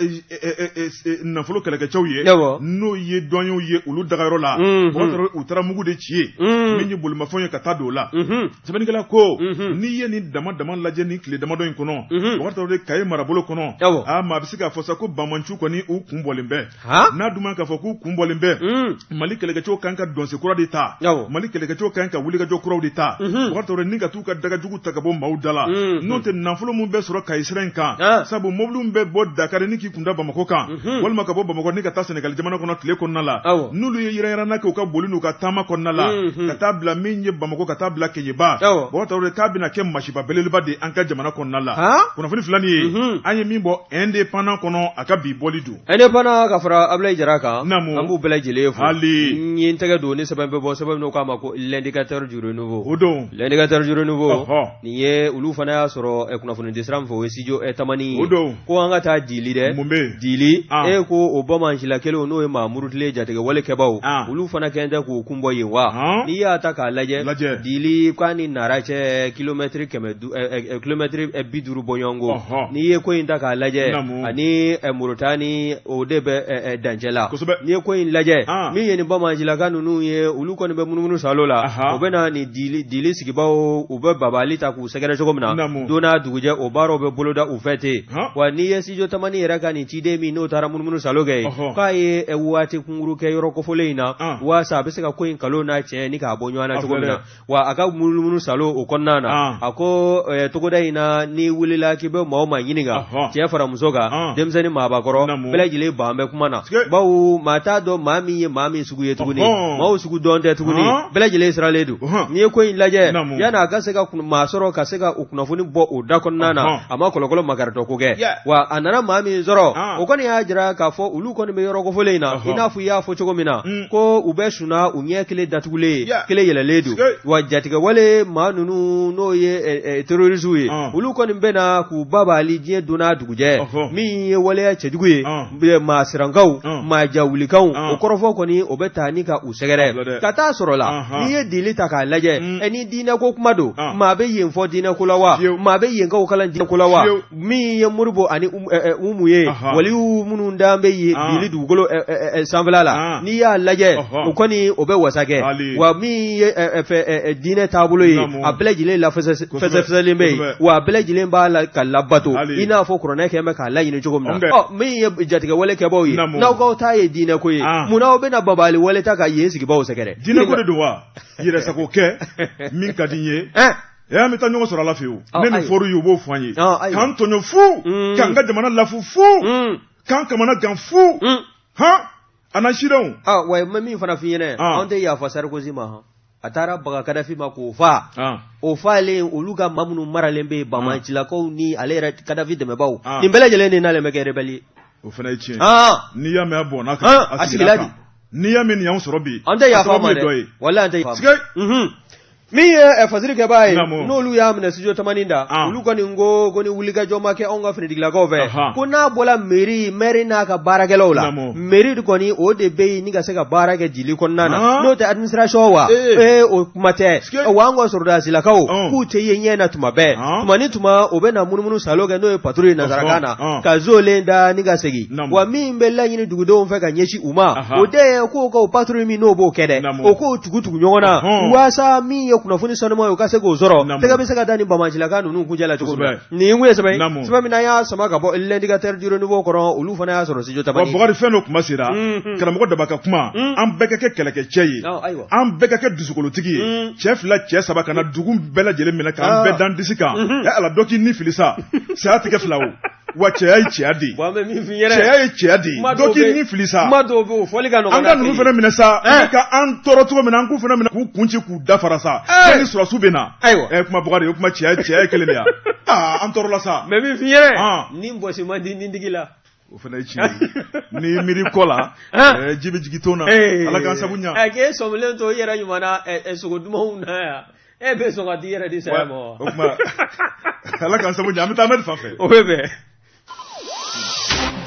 nafolo kɛlɛkɛcɛw ye n'o ye duwaniyew ye olu dagayɔrɔ la u taara mugu de ci yen min ye bolimafɛnw ye ka ta don o la sɛbɛnnikɛla ko n'i ye nin dama dama lajɛ nin tile damadɔ in kɔnɔ bakari kayi marabolo kɔnɔ a maa bɛ se k'a fɔ sa ko bamanciw kɔni u kun bɔlen bɛ n'a dun k'a fɔ k'u kun bɔlen bɛ mali kɛlɛkɛcɛw kan ka dɔnsen kura de ta mali kɛlɛkɛcɛw kan ka wulikajɔ kuraw de ta ni ka y'u ka dagajugu ta ka bɔ maaw da la mm-hmm. n'o tɛ nafolo min bɛ sɔrɔ kayi sira in kan ah. sabu mɔbiliw bɛ bɔ dakari ni k'i kunda bamakɔ kan mm-hmm. walima ka bɔ bamakɔ ni ka taa sɛnɛgali jamana kɔnɔ tile kɔnɔna la n'olu ye yiranyiranna kɛ u ka boli n'u ka taama kɔnɔna la mm-hmm. ka taa bila min ye bamakɔ ka taa bila keɲeba bɔgɔdi k'a bɛna kɛ masiba belebeleba de an ka jamana kɔnɔna la kunnafoni filani ye an ye min bɔ indépendant kɔnɔ a ka bi bɔli don A ne fana ka fara abulayi jara kan an b'u bɛɛ lajɛlen fo n ye n tɛgɛ don ni sɛbɛn bɛ bɔ sɛbɛn k'a ma ko l'indicateur du renouveau o don l'indicateur du renouveau nin ye olu fana y'a sɔrɔ kunnafoni di sira min fɛ o ye studio tamani o don ko an ka taa dili dɛ mun bɛ dili ko o bamancila kelen n'o ye maa murutilen jatigɛ wale kɛbaw olu fana kɛ tɛ k'u kun bɔ yen wa n'i y'a ta k'a lajɛ dili k'a ni nara cɛ kilomɛtiri kilomɛtiri bi duuru bɔɲɔgɔnko n'i ye ko in ta k'a lajɛ ani moritani ni o de bɛ dancɛ la n'i ye ko in lajɛ min ye nin bamancilaka ninnu ye olu kɔni bɛ munumunu salo la u bɛ na nin dili sigibaaw u bɛ babali ta k'u sɛgɛrɛ cogo min na don n'a dugujɛ o baaraw bɛ boloda u fɛ ten wa n'i ye studio tamani yɛrɛ ka nin ciden min n'o taara munumunu salo kɛ yen k'a ye waati kunkuru kɛ yɔrɔ kofɔlen in na walasa a bɛ se ka ko in kalo n'a tiɲɛ ni k'a bɔ ɲɔgɔn na cogo min na wa a ka munumunu salo o kɔnɔna na ah. a ko eh, togoda in na n'i wulila k'i bɛ maa o maa ɲininka cɛ fara muso kan ah. denmisɛnnin maabakɔrɔ bɛɛ lajɛlen ban bɛ kuma na bawo maa t'a dɔn maa min ye maa min sugu ye tuguni maaw sugu dɔn tɛ tuguni ah. bɛɛ lajɛlen siralen don n'i ye ko in lajɛ yanni a ka se ka maa sɔrɔ ka se ka o kunnafoni bɔ o da kɔnɔna na a ma kɔlɔkɔlɔ makaritɔ ko kɛ wa a nana maa min sɔrɔ o kɔni y'a jira k'a fɔ olu kɔni bɛ yɔrɔ kofɔlen in na i n'a fɔ i y'a fɔ cogo min na mm. ko u bɛ sunna u ɲɛ kelen datugulen yeah. kelen yɛlɛlen don wa jatigɛwale maa ninnu n'o ye ɛ eh, ɛ eh, terorisiw ye uh. olu kɔni bɛ na k'u babali diɲɛ don n'a dugujɛ uh -huh. min ye waleya cɛjugu ye uh. maa sirankanw uh. maa jawulikanw uh. o kɔrɔfɔ kɔni o bɛ ta ni ka u sɛgɛrɛ ka taa sɔrɔ la uh -huh. n'i ye dili ta k'a lajɛ mm. ɛ eh, ni diinɛko kuma don uh. maa bɛ yen fɔ diinɛko la wa maa bɛ yenkaw kalan diinɛko la wa min ye modibo ani um, eh, eh, umu ye waliw minnu dan bɛ yen ah. dili dugukolo eh, sanfɛla la ah. n'i y'a lajɛ o kɔni o bɛ wasa kɛ wa min ye diinɛ taabolo ye a bɛɛ lajɛlen lafɛsɛfɛsɛlen bɛ yen wa a bɛɛ lajɛlen b'a la ka labato i n'a fɔ kuranɛ kɛ bɛ k'a laɲini cogo min na ɔ min ye jatigɛ wale kɛbaaw ye n'aw k'aw ta ye diinɛ ko ye ah. munna aw bɛna babali wale ta ka yen sigibaaw sɛgɛrɛ diinɛ ko de don wa yɛrɛsago kɛ min ka di n ye e an bɛ taa ɲɔgɔn sɔrɔ ala fɛ yen ne nin fɔra ye u b'o fɔ an ye k'an tɔɲɔ fu mm. k'an ka jamana lafu fu mm. k'an kamana gan fu mm. hɔn an na sidɔnw wa n bɛ min fana f'i ɲɛna anw tɛ yafa sarikozi ma hɔn a taara baga kadafi ma k'o fa o falen olu ka maa minnu maralen bɛ bamancilakaw ni ale yɛrɛ kadafi dɛmɛbaw nin bɛɛ lajɛlen de n'ale bɛ kɛ rebɛli ye o fana ye tiɲɛ n'i y'a mɛn a bɔnna kan a sigila de n'i y'a mɛn nin y'anw sɔrɔ bi an tɛ yafa ma dɛ walayi an tɛ yafa min ye eh, fasiri kɛbaa ye n'olu y'a minɛ studio tamani da ah. olu kɔni ko ko ni wulikajɔ ma kɛ anw ka finitigilakaw fɛ ko n'a bɔla meri mɛri n'a ka baarakɛlaw la meri kɔni o de bɛ yen ni ka se ka baara kɛ jili kɔnɔna na ah. n'o tɛ administration wa ee eh. eh, o kuma tɛ wa an ka sɔrɔdasilakaw ah. k'u tɛ ye ɲɛ na tuma bɛɛ tuma ni tuma o bɛ na munumunu salo kɛ n'o ye patrouille ye nansarakan na ka zolen da ni ka segin wa min bɛ laɲini dugudenw fɛ ka ɲɛsin u ma o de ye k'o ka patrouille min n'o b'o kɛ dɛ o k'o tugu tugu ɲɔgɔn na walasa min ye kunnafoni sanuman ye o ka se k'o sɔrɔ tɛgɛ bɛ se ka da ni banbaancilaka ninnu kun la cogo nin ye sɛbɛn sɛbɛn min y'a sama ka bɔ l'indicateur du renouveau kɔrɔ olu fana y'a sɔrɔ studio tamani bakari fɛn dɔ kuma sera karamɔgɔ daba ka kuma an bɛɛ ka kɛ kɛlɛkɛcɛ ye an bɛɛ ka kɛ dusukolotigi ye cɛ fila cɛ saba kana dugu bɛɛ lajɛlen minɛ k'an bɛɛ da an disi kan a la dɔ k'i ni fili sa saya tɛ kɛ fila o wa cɛya ye cɛya de ye bon an bɛ min f'i ɲɛna cɛya ye cɛya de ye dɔ k'i ni fili sa kuma dɔw bɛ yen o fɔli ka nɔgɔn an ka ninnu fana minɛ sa an bɛ ka an tɔɔrɔ cogo min na an k'u fana minɛ k'u kun ci k'u dafara sa ko ni sɔrɔdasiw bɛ na ayiwa ɛ kuma bakari ye kuma cɛya cɛya ye kelen de ye aa an tɔɔrɔla sa mais min f'i ɲɛna ni bɔsi man di ni digi la o fana ye tiɲɛ ye ni miiri kɔ la ji bɛ jigin ton na ala k'an sabu ɲa k'e sɔmilen to i yɛrɛ ɲuman na sogo dumanw na yan e bɛ sɔn ka t'i yɛrɛ di saya ma o tuma ala k'an sabu ɲa an bɛ taa amadu fan fɛ o bɛ bɛn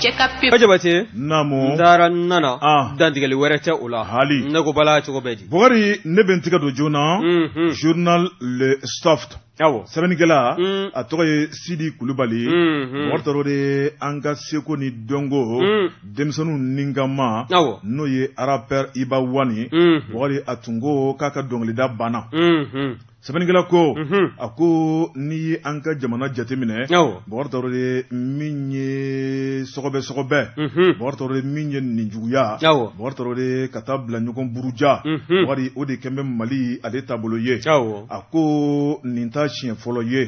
cɛ ka pe. jabate. naamu. n taara n nana. Ah. dantigɛli wɛrɛ tɛ o la. hali. ne ko bala cogo bɛɛ di. bakari ne bɛ n tigɛ don joona. Mhm. journal le soft. awɔ. sɛbɛnnikɛla. Mm. a tɔgɔ ye sidi kulubali. Mhm. bakari tarawele an ka seko ni dɔnko. Mm. denmisɛnninw ninkama n'o ye arapɛri iba wani ye bakari a tun ko k'a ka dɔnkilida banna sɛbɛnnikɛla ko a ko n'i ye an ka jamana jateminɛ bakari tarawele min ye sɔgɔbɛ sɔgɔbɛ bakari tarawele min ye ninjuguya bakari tarawele ka taa bila ɲɔgɔn buruja bakari o de kɛlen bɛ mali ale taabolo ye a ko nin ta siɲɛ fɔlɔ ye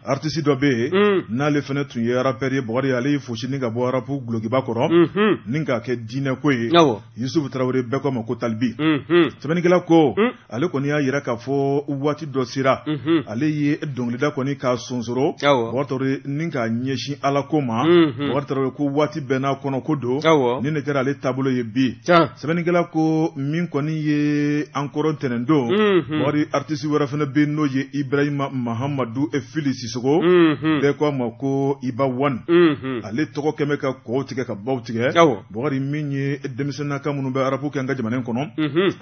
Artisi dɔ bɛ yen mm. n'ale fana tun ye arapɛri ye bakari ale y'i fosi ni ka bɔ arapu dulokiba kɔrɔ mm-hmm. ni k'a kɛ diinɛ ko ye yisufu tarawele bɛɛ ko a ma ko talibi mm-hmm. sɛbɛnnikɛla ko mm. ale kɔni y'a yira k'a fɔ waati dɔ sera mm-hmm. ale ye dɔnkilida kɔni k'a sonsoro bakari tarawele ni k'a ɲɛsin ala ko ma bakari tarawele ko waati bɛɛ n'a kɔnɔ ko don ni ne kɛra ale taabolo ye bi sɛbɛnnikɛla ko min kɔni ye an kɔrɔ ntɛnɛndon mhm. bakari aritisi wɛrɛ fana bɛ n'o ye ibrahima mahamadu fili sisoko mhm. bɛɛ ko a ma ko iba wani mhm. ale tɔgɔ kɛmɛ ka kɔw tigɛ ka baw tigɛ bakari min ye denmisɛnnaka minnu bɛ arapu kɛ an ka jamana in kɔnɔ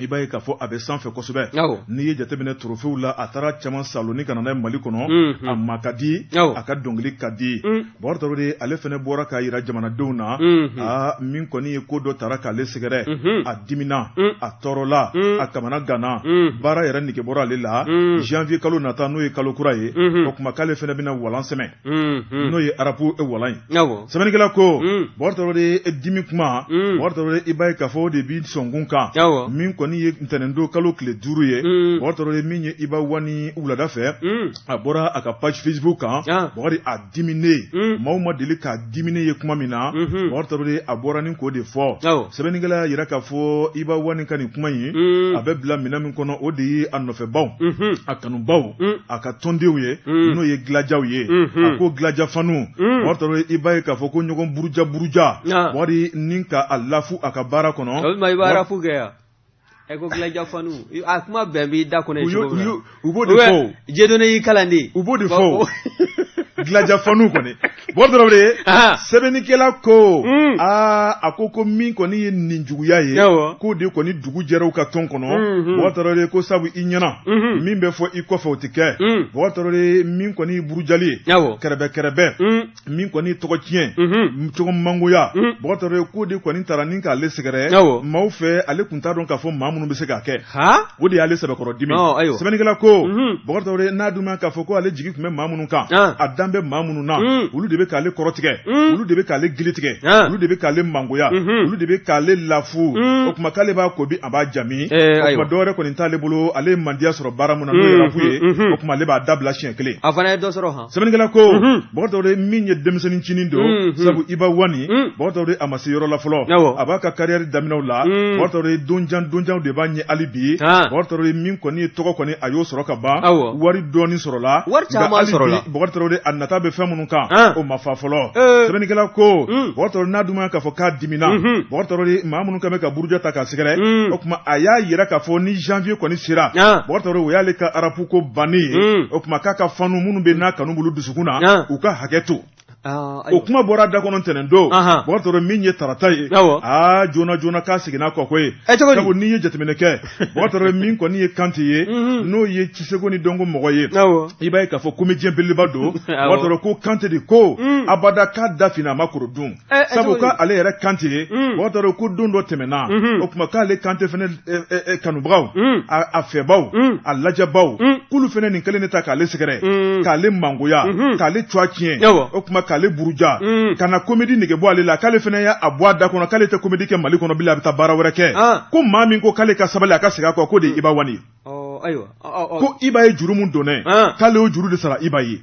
i b'a ye k'a fɔ a bɛ sanfɛ kosɛbɛ n'i ye jateminɛ torofew la a taara caman saalo ni ka na n'a ye mali kɔnɔ a ma ka di a ka dɔnkili ka di Bakari tarawele ale fana bɔra k'a jira jamanadenw na aa min kɔni ye ko dɔ taara k'ale sɛgɛrɛ a dimina a tɔɔrɔla a kamanaganna baara yɛrɛ nege bɔra ale la janvier kalo nata n'o ye kalo kura ye o kuma k'ale fana bɛna walan sɛmɛ n'o ye rap walan ye sɛbɛnnikɛla ko bakari tarawele dimi kuma bakari tarawele i b'a ye k'a fɔ o de bɛ sɔnkun kan min kɔni ye ntɛnɛndon kalo tile duuru ye bakari tarawele min ye iba one wulada fɛ a bɔra a ka page facebook kan ah. bakari a dimine hmm. maaw ma deli k'a dimine ye kuma min na mhm. bakari tarawele a bɔra ni k'o de fɔ sɛbɛnnikɛla y'a yira k'a fɔ iba one ka nin kuma in hmm. a bɛ bila minɛn min kɔnɔ o de ye a nɔfɛbaw mhm. a kanubaw hmm. a ka tɔndenw ye n'o ye gladiaw ye mhm. a ko gladia fanw bakari tarawele i b'a ye k'a fɔ ko ɲɔgɔn buruja buruja bakari ni k'a lafu a ka baara kɔnɔ ɛ ko gladia fanw i- a kuma bɛ bɔ i da kɔnɔ u ye y'o- cogo u min y'o- na u b'o de fɔ o. jedone y'i kalan de u b'o de fɔ o. gladia fanw kɔni bakari tarawele Ahan. sɛbɛnnikɛla ko Mm. aa a ko ko min kɔni ye ninjuguya ye Awɔ. k'o de kɔni dugu jɛra u ka tɔn kɔnɔ Mhm. bakari tarawele ko sabu i ɲɛna Mhm. min bɛ fɔ i kɔfɛ o tɛ kɛ Mm. bakari tarawele min kɔni ye burujali ye Awɔ. kɛrɛbɛ kɛrɛbɛ Mm. min kɔni tɔgɔ tiɲɛ cogo mangoya bakari tarawele k'o de kɔni taara ni k'ale sɛgɛrɛ maaw fɛ ale tun t'a dɔn k'a fɔ maa minnu bɛ se k'a kɛ o de y'ale sɛbɛkɔrɔ dimi sɛbɛnnikɛla ko bakari tarawele n'a dun k'a fɔ ko ale jigi tun bɛ maa minnu kan a dan bɛ maa minnu na olu de bɛ k'ale kɔrɔtigɛ olu de bɛ k'ale gili tigɛ olu de bɛ k'ale mangoya olu de bɛ k'ale lafu o tuma k'ale b'a ko bi a b'a ja bi o tuma dɔwɛrɛ kɔni t'ale bolo ale ye mandiya sɔrɔ baara min na n'o ye rap ye o tuma ale b'a dabila siɲɛ kelen sɛbɛnnikɛla ko bakari tarawele min ye denmisɛnnin cinin don sabu iba one bakari tarawele a ma se yɔrɔ la fɔlɔ a b'a ka carrière daminɛw la bakari tarawele don jan don janw de b'a ɲɛ hali bi bakari tarawele min kɔni ye tɔgɔ kɔni a y'o sɔrɔ ka ban wari dɔɔni sɔrɔla bakari tarawele a nata bɛ fɛn minnu kan o ma fa fɔlɔ sɛbɛnnikɛla ko bakari tarawele n'a dun k'a fɔ k'a dimina bakari tarawele maa minnu kɛn bɛ ka buruja ta k'a sɛgɛrɛ o tuma a y'a jira k'a fɔ ni janvier kɔni sera bakari tarawele o y'ale ka rap ko banni ye hmm. o tuma k'a ka fanw minnu bɛ n'a kanu b'olu dusukun na ah. u ka hakɛ to ah, o kuma bɔra a da kɔnɔ ntɛnɛn don bakari tarawele min ye tarata ye aa ah, joona joona k'a seginna kɔ koyi eh, sabu n'i ye jateminɛ kɛ bakari tarawele min kɔni ye kante ye mhm. n'o ye ciseko ni dɔnko mɔgɔ ye i b'a ye k'a fɔ comédien belebeleba don bakari tarawele ko kante de ko mm. abada k'a da finna a ma koro dun sabu ko ale yɛrɛ kante bakari tarawele ko don dɔ tɛmɛna o tuma k'ale kante fana kanubagaw a fɛbaw a lajɛbaw k'olu fana nin kelen de ta k'ale sɛgɛrɛ k'ale mangoya k'ale tɔgɔ tiɲɛ o tuma k'ale buruja ka na comédie nege bɔ ale la k'ale fana y'a bɔ a da kɔnɔ k'ale tɛ comédie kɛ mali kɔnɔ bilen a bɛ taa baara wɛrɛ kɛ ko maa min ko k'ale ka sabali a ka segin a kɔ k'o de ye iba one ayiwa ko iba ye juru min donnɛ k'ale y'o juru de sara iba ye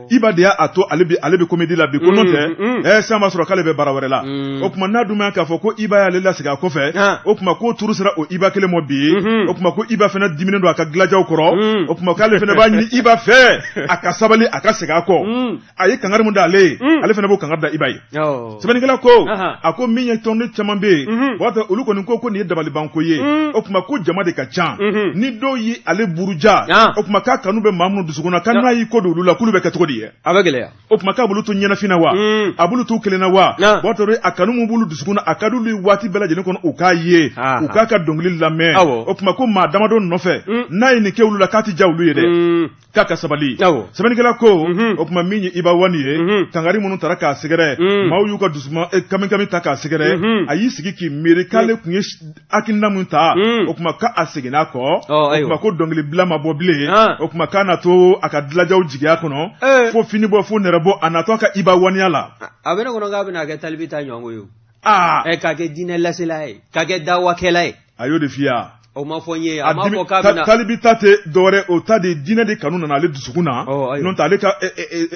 iba de y'a to ale bɛ ale bɛ comédie la bi ko n'o tɛ ɛ sisan b'a sɔrɔ k'ale bɛ baara wɛrɛ la o tuma n'a dun ma k'a fɔ ko iba y'ale lasegin a kɔfɛ o tuma k'o turu sera o iba kelen mɔ bi o tuma ko iba fana diminen don a ka dilajaw kɔrɔ o tuma k'ale fana b'a ɲini iba fɛ a ka sabali a ka segin a kɔ. a ye kangari min da ale ye mm. ale fana b'o kangari da iba ye sɛbɛnnikɛla ko a ko min ye tɔnden caman bɛ yen mm-hmm. o b'a to olu kɔni ko ko nin ye dabalibanko ye mm. o tuma ko jama de ka ca mm-hmm. ni dɔw ye ale buruja o tuma k'a kanu bɛ maa minnu dusukun na ko n'a y'i kɔ don olu la k'olu bɛ kɛ cogo di ye a bɛ gɛlɛya o tuma k'a b'olu to ɲɛnafin na wa mm. a b'olu t'u kelen na wa o b'a to a kanu min b'olu dusukun na a ka d'olu ye waati bɛɛ lajɛlen kɔnɔ u k'a ye u k'a ka dɔnkili lamɛn o tuma ko maa damadɔ nɔfɛ mm. n'a ye nin kɛ olu la k'a tɛ diya olu ye dɛ k'a ka sabali sɛbɛnnikɛla ko mhm. o tuma min ye iba wani ye mhm. kangari minnu taara k'a sɛgɛrɛ mhm. maaw y'u ka dusuma eh, kamikami ta k'a sɛgɛrɛ a y'i sigi k'i miiri k'ale tun ye hakilina min ta o tuma k'a seginna a kɔ o tuma ko dɔnkili bila ma bɔ bilen ah. o tuma k'a na to a ka dilajaw jigiya kɔnɔ eh. fo fini bɔ fo nɛrɛ bɔ a natɔ a ka iba waniya la a bɛ ne kɔnɔ k'a bɛna kɛ talibi ta ɲɔgɔn ye o ah. eh, k'a kɛ diinɛ lasela ye k'a kɛ dawakɛla ye a y'o de f'i ye o ma fɔ n ye a ma fɔ k'a bɛna talibi ta tɛ dɔwɛrɛ o ta de diinɛ de kanu nana ale dusukun na n'o tɛ ale ka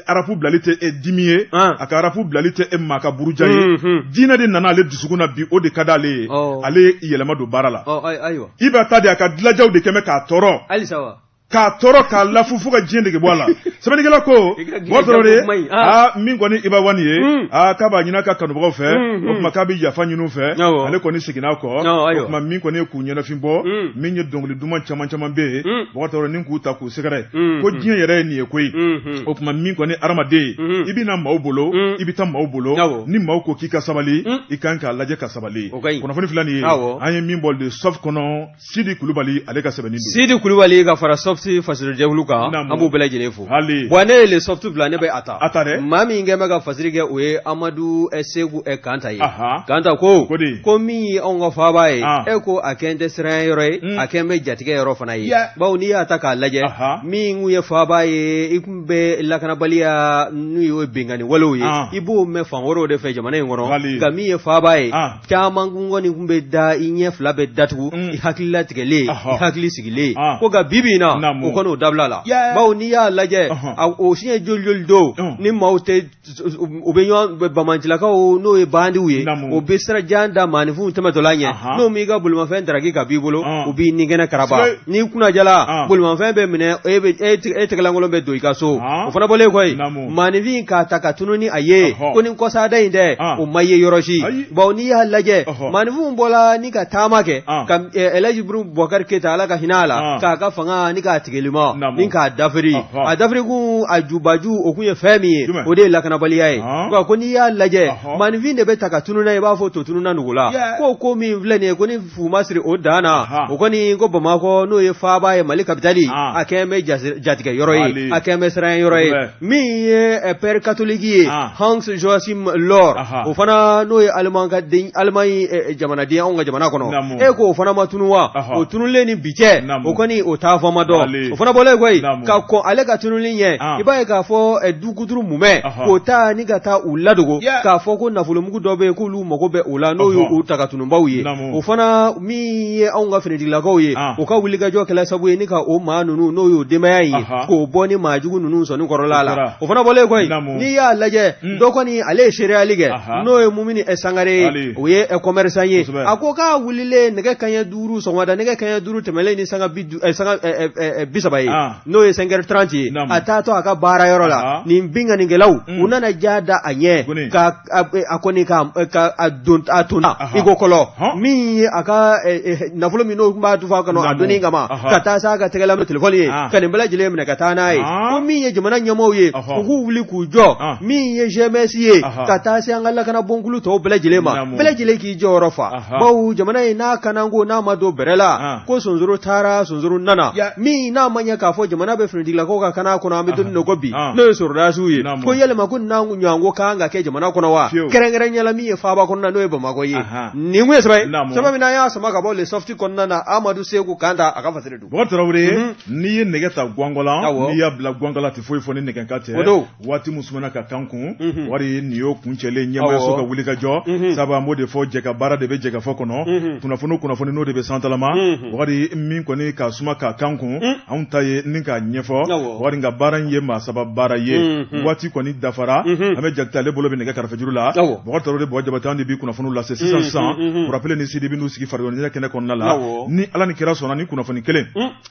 arapu bilali tɛ e dimi ye a ka arapu bilali tɛ e maa ka buruja ye diinɛ de nana ale dusukun na bi o de ka d'ale ye ale yɛlɛma don baara la iba ta de a ka dilajaw de kɛmɛ k'a tɔɔrɔ k'a tɔɔrɔ k'a lafu fo ka diɲɛ dege bɔ a la sɛbɛnnikɛla ko mɔgɔ dɔrɔn de aa min kɔni iba wani ye hmm. aa k'a b'a ɲini a ka kanubagaw fɛ hmm, hmm. o tuma k'a bɛ yafa ɲini u fɛ ale kɔni seginna kɔ o tuma min kɔni ye k'u ɲɛnafin bɔ min ye dɔnkili duman caman caman bɛ yen mɔgɔ dɔrɔn ni k'u ta k'u sɛgɛrɛ ko diɲɛ yɛrɛ ye nin ye koyi o tuma min kɔni adamaden ye i bɛ na maaw bolo i bɛ taa maaw bolo ni maaw ko k'i ka sabali i kan k'a lajɛ ka sabali kunnafoni fila nin ye an ye min bɔ le Soft kɔnɔ Sidi kulubali ale k'a sɛbɛn sidi kulubali ka fara Soft fasiri jɛkulu kan an b'u bɛɛ lajɛlen fo ayiwa ne ye Soft bila ne bɛ a ta a ta dɛ maa min kɛ bɛ ka fasiri kɛ o ye amadu segu kanta ye kanta ko ko min ye anw ka faaba ye e ko a kɛlen bɛ siran yɔrɔ ye hmm. a kɛlen bɛ jatigɛ yɔrɔ fana ye bawo n'i y'a ta k'a lajɛ min ye faaba ye i tun bɛ lakanabaliya n'o ye binkanni walew ye i b'o mɛn fan wɛrɛw de fɛ jamana in kɔnɔ nka min ye faaba ye caman kɔni tun bɛ da i ɲɛ fila bɛ datugu mm. i hakili latigɛlen i hakili sigilen ah. ko nka bibi na o kɔni o dabilala bawo n'i y'a lajɛ o siɲɛ joli joli don mm. ni maaw tɛ u bɛ ɲɔgɔn bamancilakaw n'o ye bandiw ye o bɛ sira jan da maaninfinw tɛmɛtɔla ɲɛ n'o m'i ka bolimafɛn daraki ka b'i bolo ah. u b'i ninkɛnɛ karaba n'i kunna diyala ah. bolimafɛn bɛ minɛ e, e, e tɛgɛlankolon bɛ don i ka so o fana bɔlen kɔ yen maaninfin k'a ta ka tunun ni a ye Ɔhɔ. ko ni kɔsada in dɛ Ah. o ma ye yɔrɔ si Ayi. bawo n'i y'a lajɛ Ɔhɔ. maaninfinw bɔla ni ka taama kɛ Ah. ka eh, Elhaji Buru Bubakari Keyita ala ka hinɛ a la Ah. k'a ka fanga ni k'a tigilima Naamu. ni k'a dafiri Ɔhɔ. a dafirikun a jubaju o kun ye fɛn min ye Jumɛn? o de ye lakanabaliya ye Ah. Wa ko n'i y'a lajɛ Ɔhɔ. maaninfin de bɛ ta ka tunun n'a ye i b'a fɔ to tununna nugu la Yeah. ko ko min filɛ nin ye ko ni fu ma siri o dan na Ahan. o kɔni ko bamakɔ n'o ye faaba ye mali kapitali Ah. a kɛlen bɛ jasi- jatigɛ yɔrɔ ye Wale. a kɛlen bɛ siran yɔrɔ ye Kosɛbɛ. min ye eh, père catholique ye Ah. hans joachim lor Aha. o fana n'o ye aliman ka den alimaɲi eh, jamanaden anw ka jamana kɔnɔ Naamu. e ko o fana ma tunu wa Aha. o tunulen ni bi cɛ Naamu. o kɔni o taafan ma dɔn Wale. o fana bɔlen koyi Naamu. ka kɔn ale ka tunuli ɲɛ Ah. i b'a ye k'a fɔ eh, du kuturu mumɛ Aha. k'o ta ni ka taa u ladogo Yeah. k'a fɔ ko nafolomugu dɔ bɛ yen k'olu u mago bɛ o la n'o y'u ta ka tununbaw ye o fana min ye anw ka finitigilakaw ye u ka wulikajɔ kɛla sabu ye ni ka o maa ninnu n'o y'o denbaya ye k'o bɔ ni maa jugu ninnu sɔnni kɔrɔla la o fana bɔlen koyi n'i y'a lajɛ hmm. dɔ kɔni ale ye seereyali kɛ n'o ye mumini ɛ sangare ye o ye kɔmɛrisan ye a ko k'a wulilen nɛgɛ kaɲɛ duuru sɔgɔmada nɛgɛ kaɲɛ duuru tɛmɛlen ni sanga bi saba ye n'o ye sɛnkɛri tranti ye a taatɔ a ka baara yɔrɔ la nin binkanikɛlaw hmm. u nana ja da a ɲɛ ka a kɔni ka a don a to i ko kɔlɔ min ye a ka nafolo min n'o b'a dufa kɔnɔ a donni kama ka taa s'a ka tɛgɛla ma n'o telefɔni ye ka nin bɛɛ lajɛlen minɛ ka taa n'a ye ko min ye jamana ɲɛmɔgɔw ye u k'u wuli k'u jɔ min ye GMS ye ka taa se an ka lakana bonkulu tɔw bɛɛ lajɛlen ma bɛɛ lajɛlen k'i jɔyɔrɔ fa bawo jamana in n'a kanako n'a ma don bɛrɛ la ko sonsoro taara sonsoro nana min n'a ma ɲɛ k'a fɔ jamana bɛ finitigilakaw ka kana kɔnɔ an bɛ don ko bi n'o ye sɔrɔdasiw ye ko yalima ko n'an ɲɔgɔnko kan ka kɛ jamana kɔnɔ wa kɛrɛnkɛrɛnya la min ye faaba kɔnɔna n'o ye bamakɔ ye nin kun ye sɛbɛn min n'an y'a sama ka bɔ Le Soft kɔnɔna na amadu seku kanta a ka fasiri don n'i ye nɛgɛ ta gakɔla n'i y'a bila gakɔla tɛ foyi fɔ ni nɛgɛ kan tɛ waati min sumana ka k'an kun mhm. waati nin y'o kuncɛlen ɲɛmaayaso ka wuli ka jɔ mhm. sabu an b'o de fɔ jɛka baara de bɛ jɛkafɔ kɔnɔ mhm. kunnafoni kunnafoni n'o de bɛ santalama waati min kɔni ka suma ka k'an kun anw ta ye ni k'a ɲɛfɔ wari nka baara in ye maa saba baara ye waati kɔni dafara an bɛ jakite ale bolo bɛ nɛgɛ karafejuru la bɔkari tarawele bɔgɔ jabate an de bi kunnafoniw lase sisan sisan kurapile ni sidi bɛ n'u sigi farikoloɲɛnajɛ kɛnɛ kɔnɔna la ni ala ni kira sɔnna ni kunnafoni kelen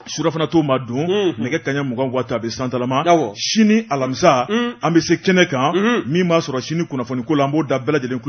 surafana to ma dun mm -hmm. nɛgɛ kaɲɛ mugan waati a bɛ santalama sini alamisa mm -hmm. an bɛ se kɛnɛ kan mm -hmm. min b'a sɔrɔ sini kunnafoni ko la an b'o da bɛɛ lajɛlen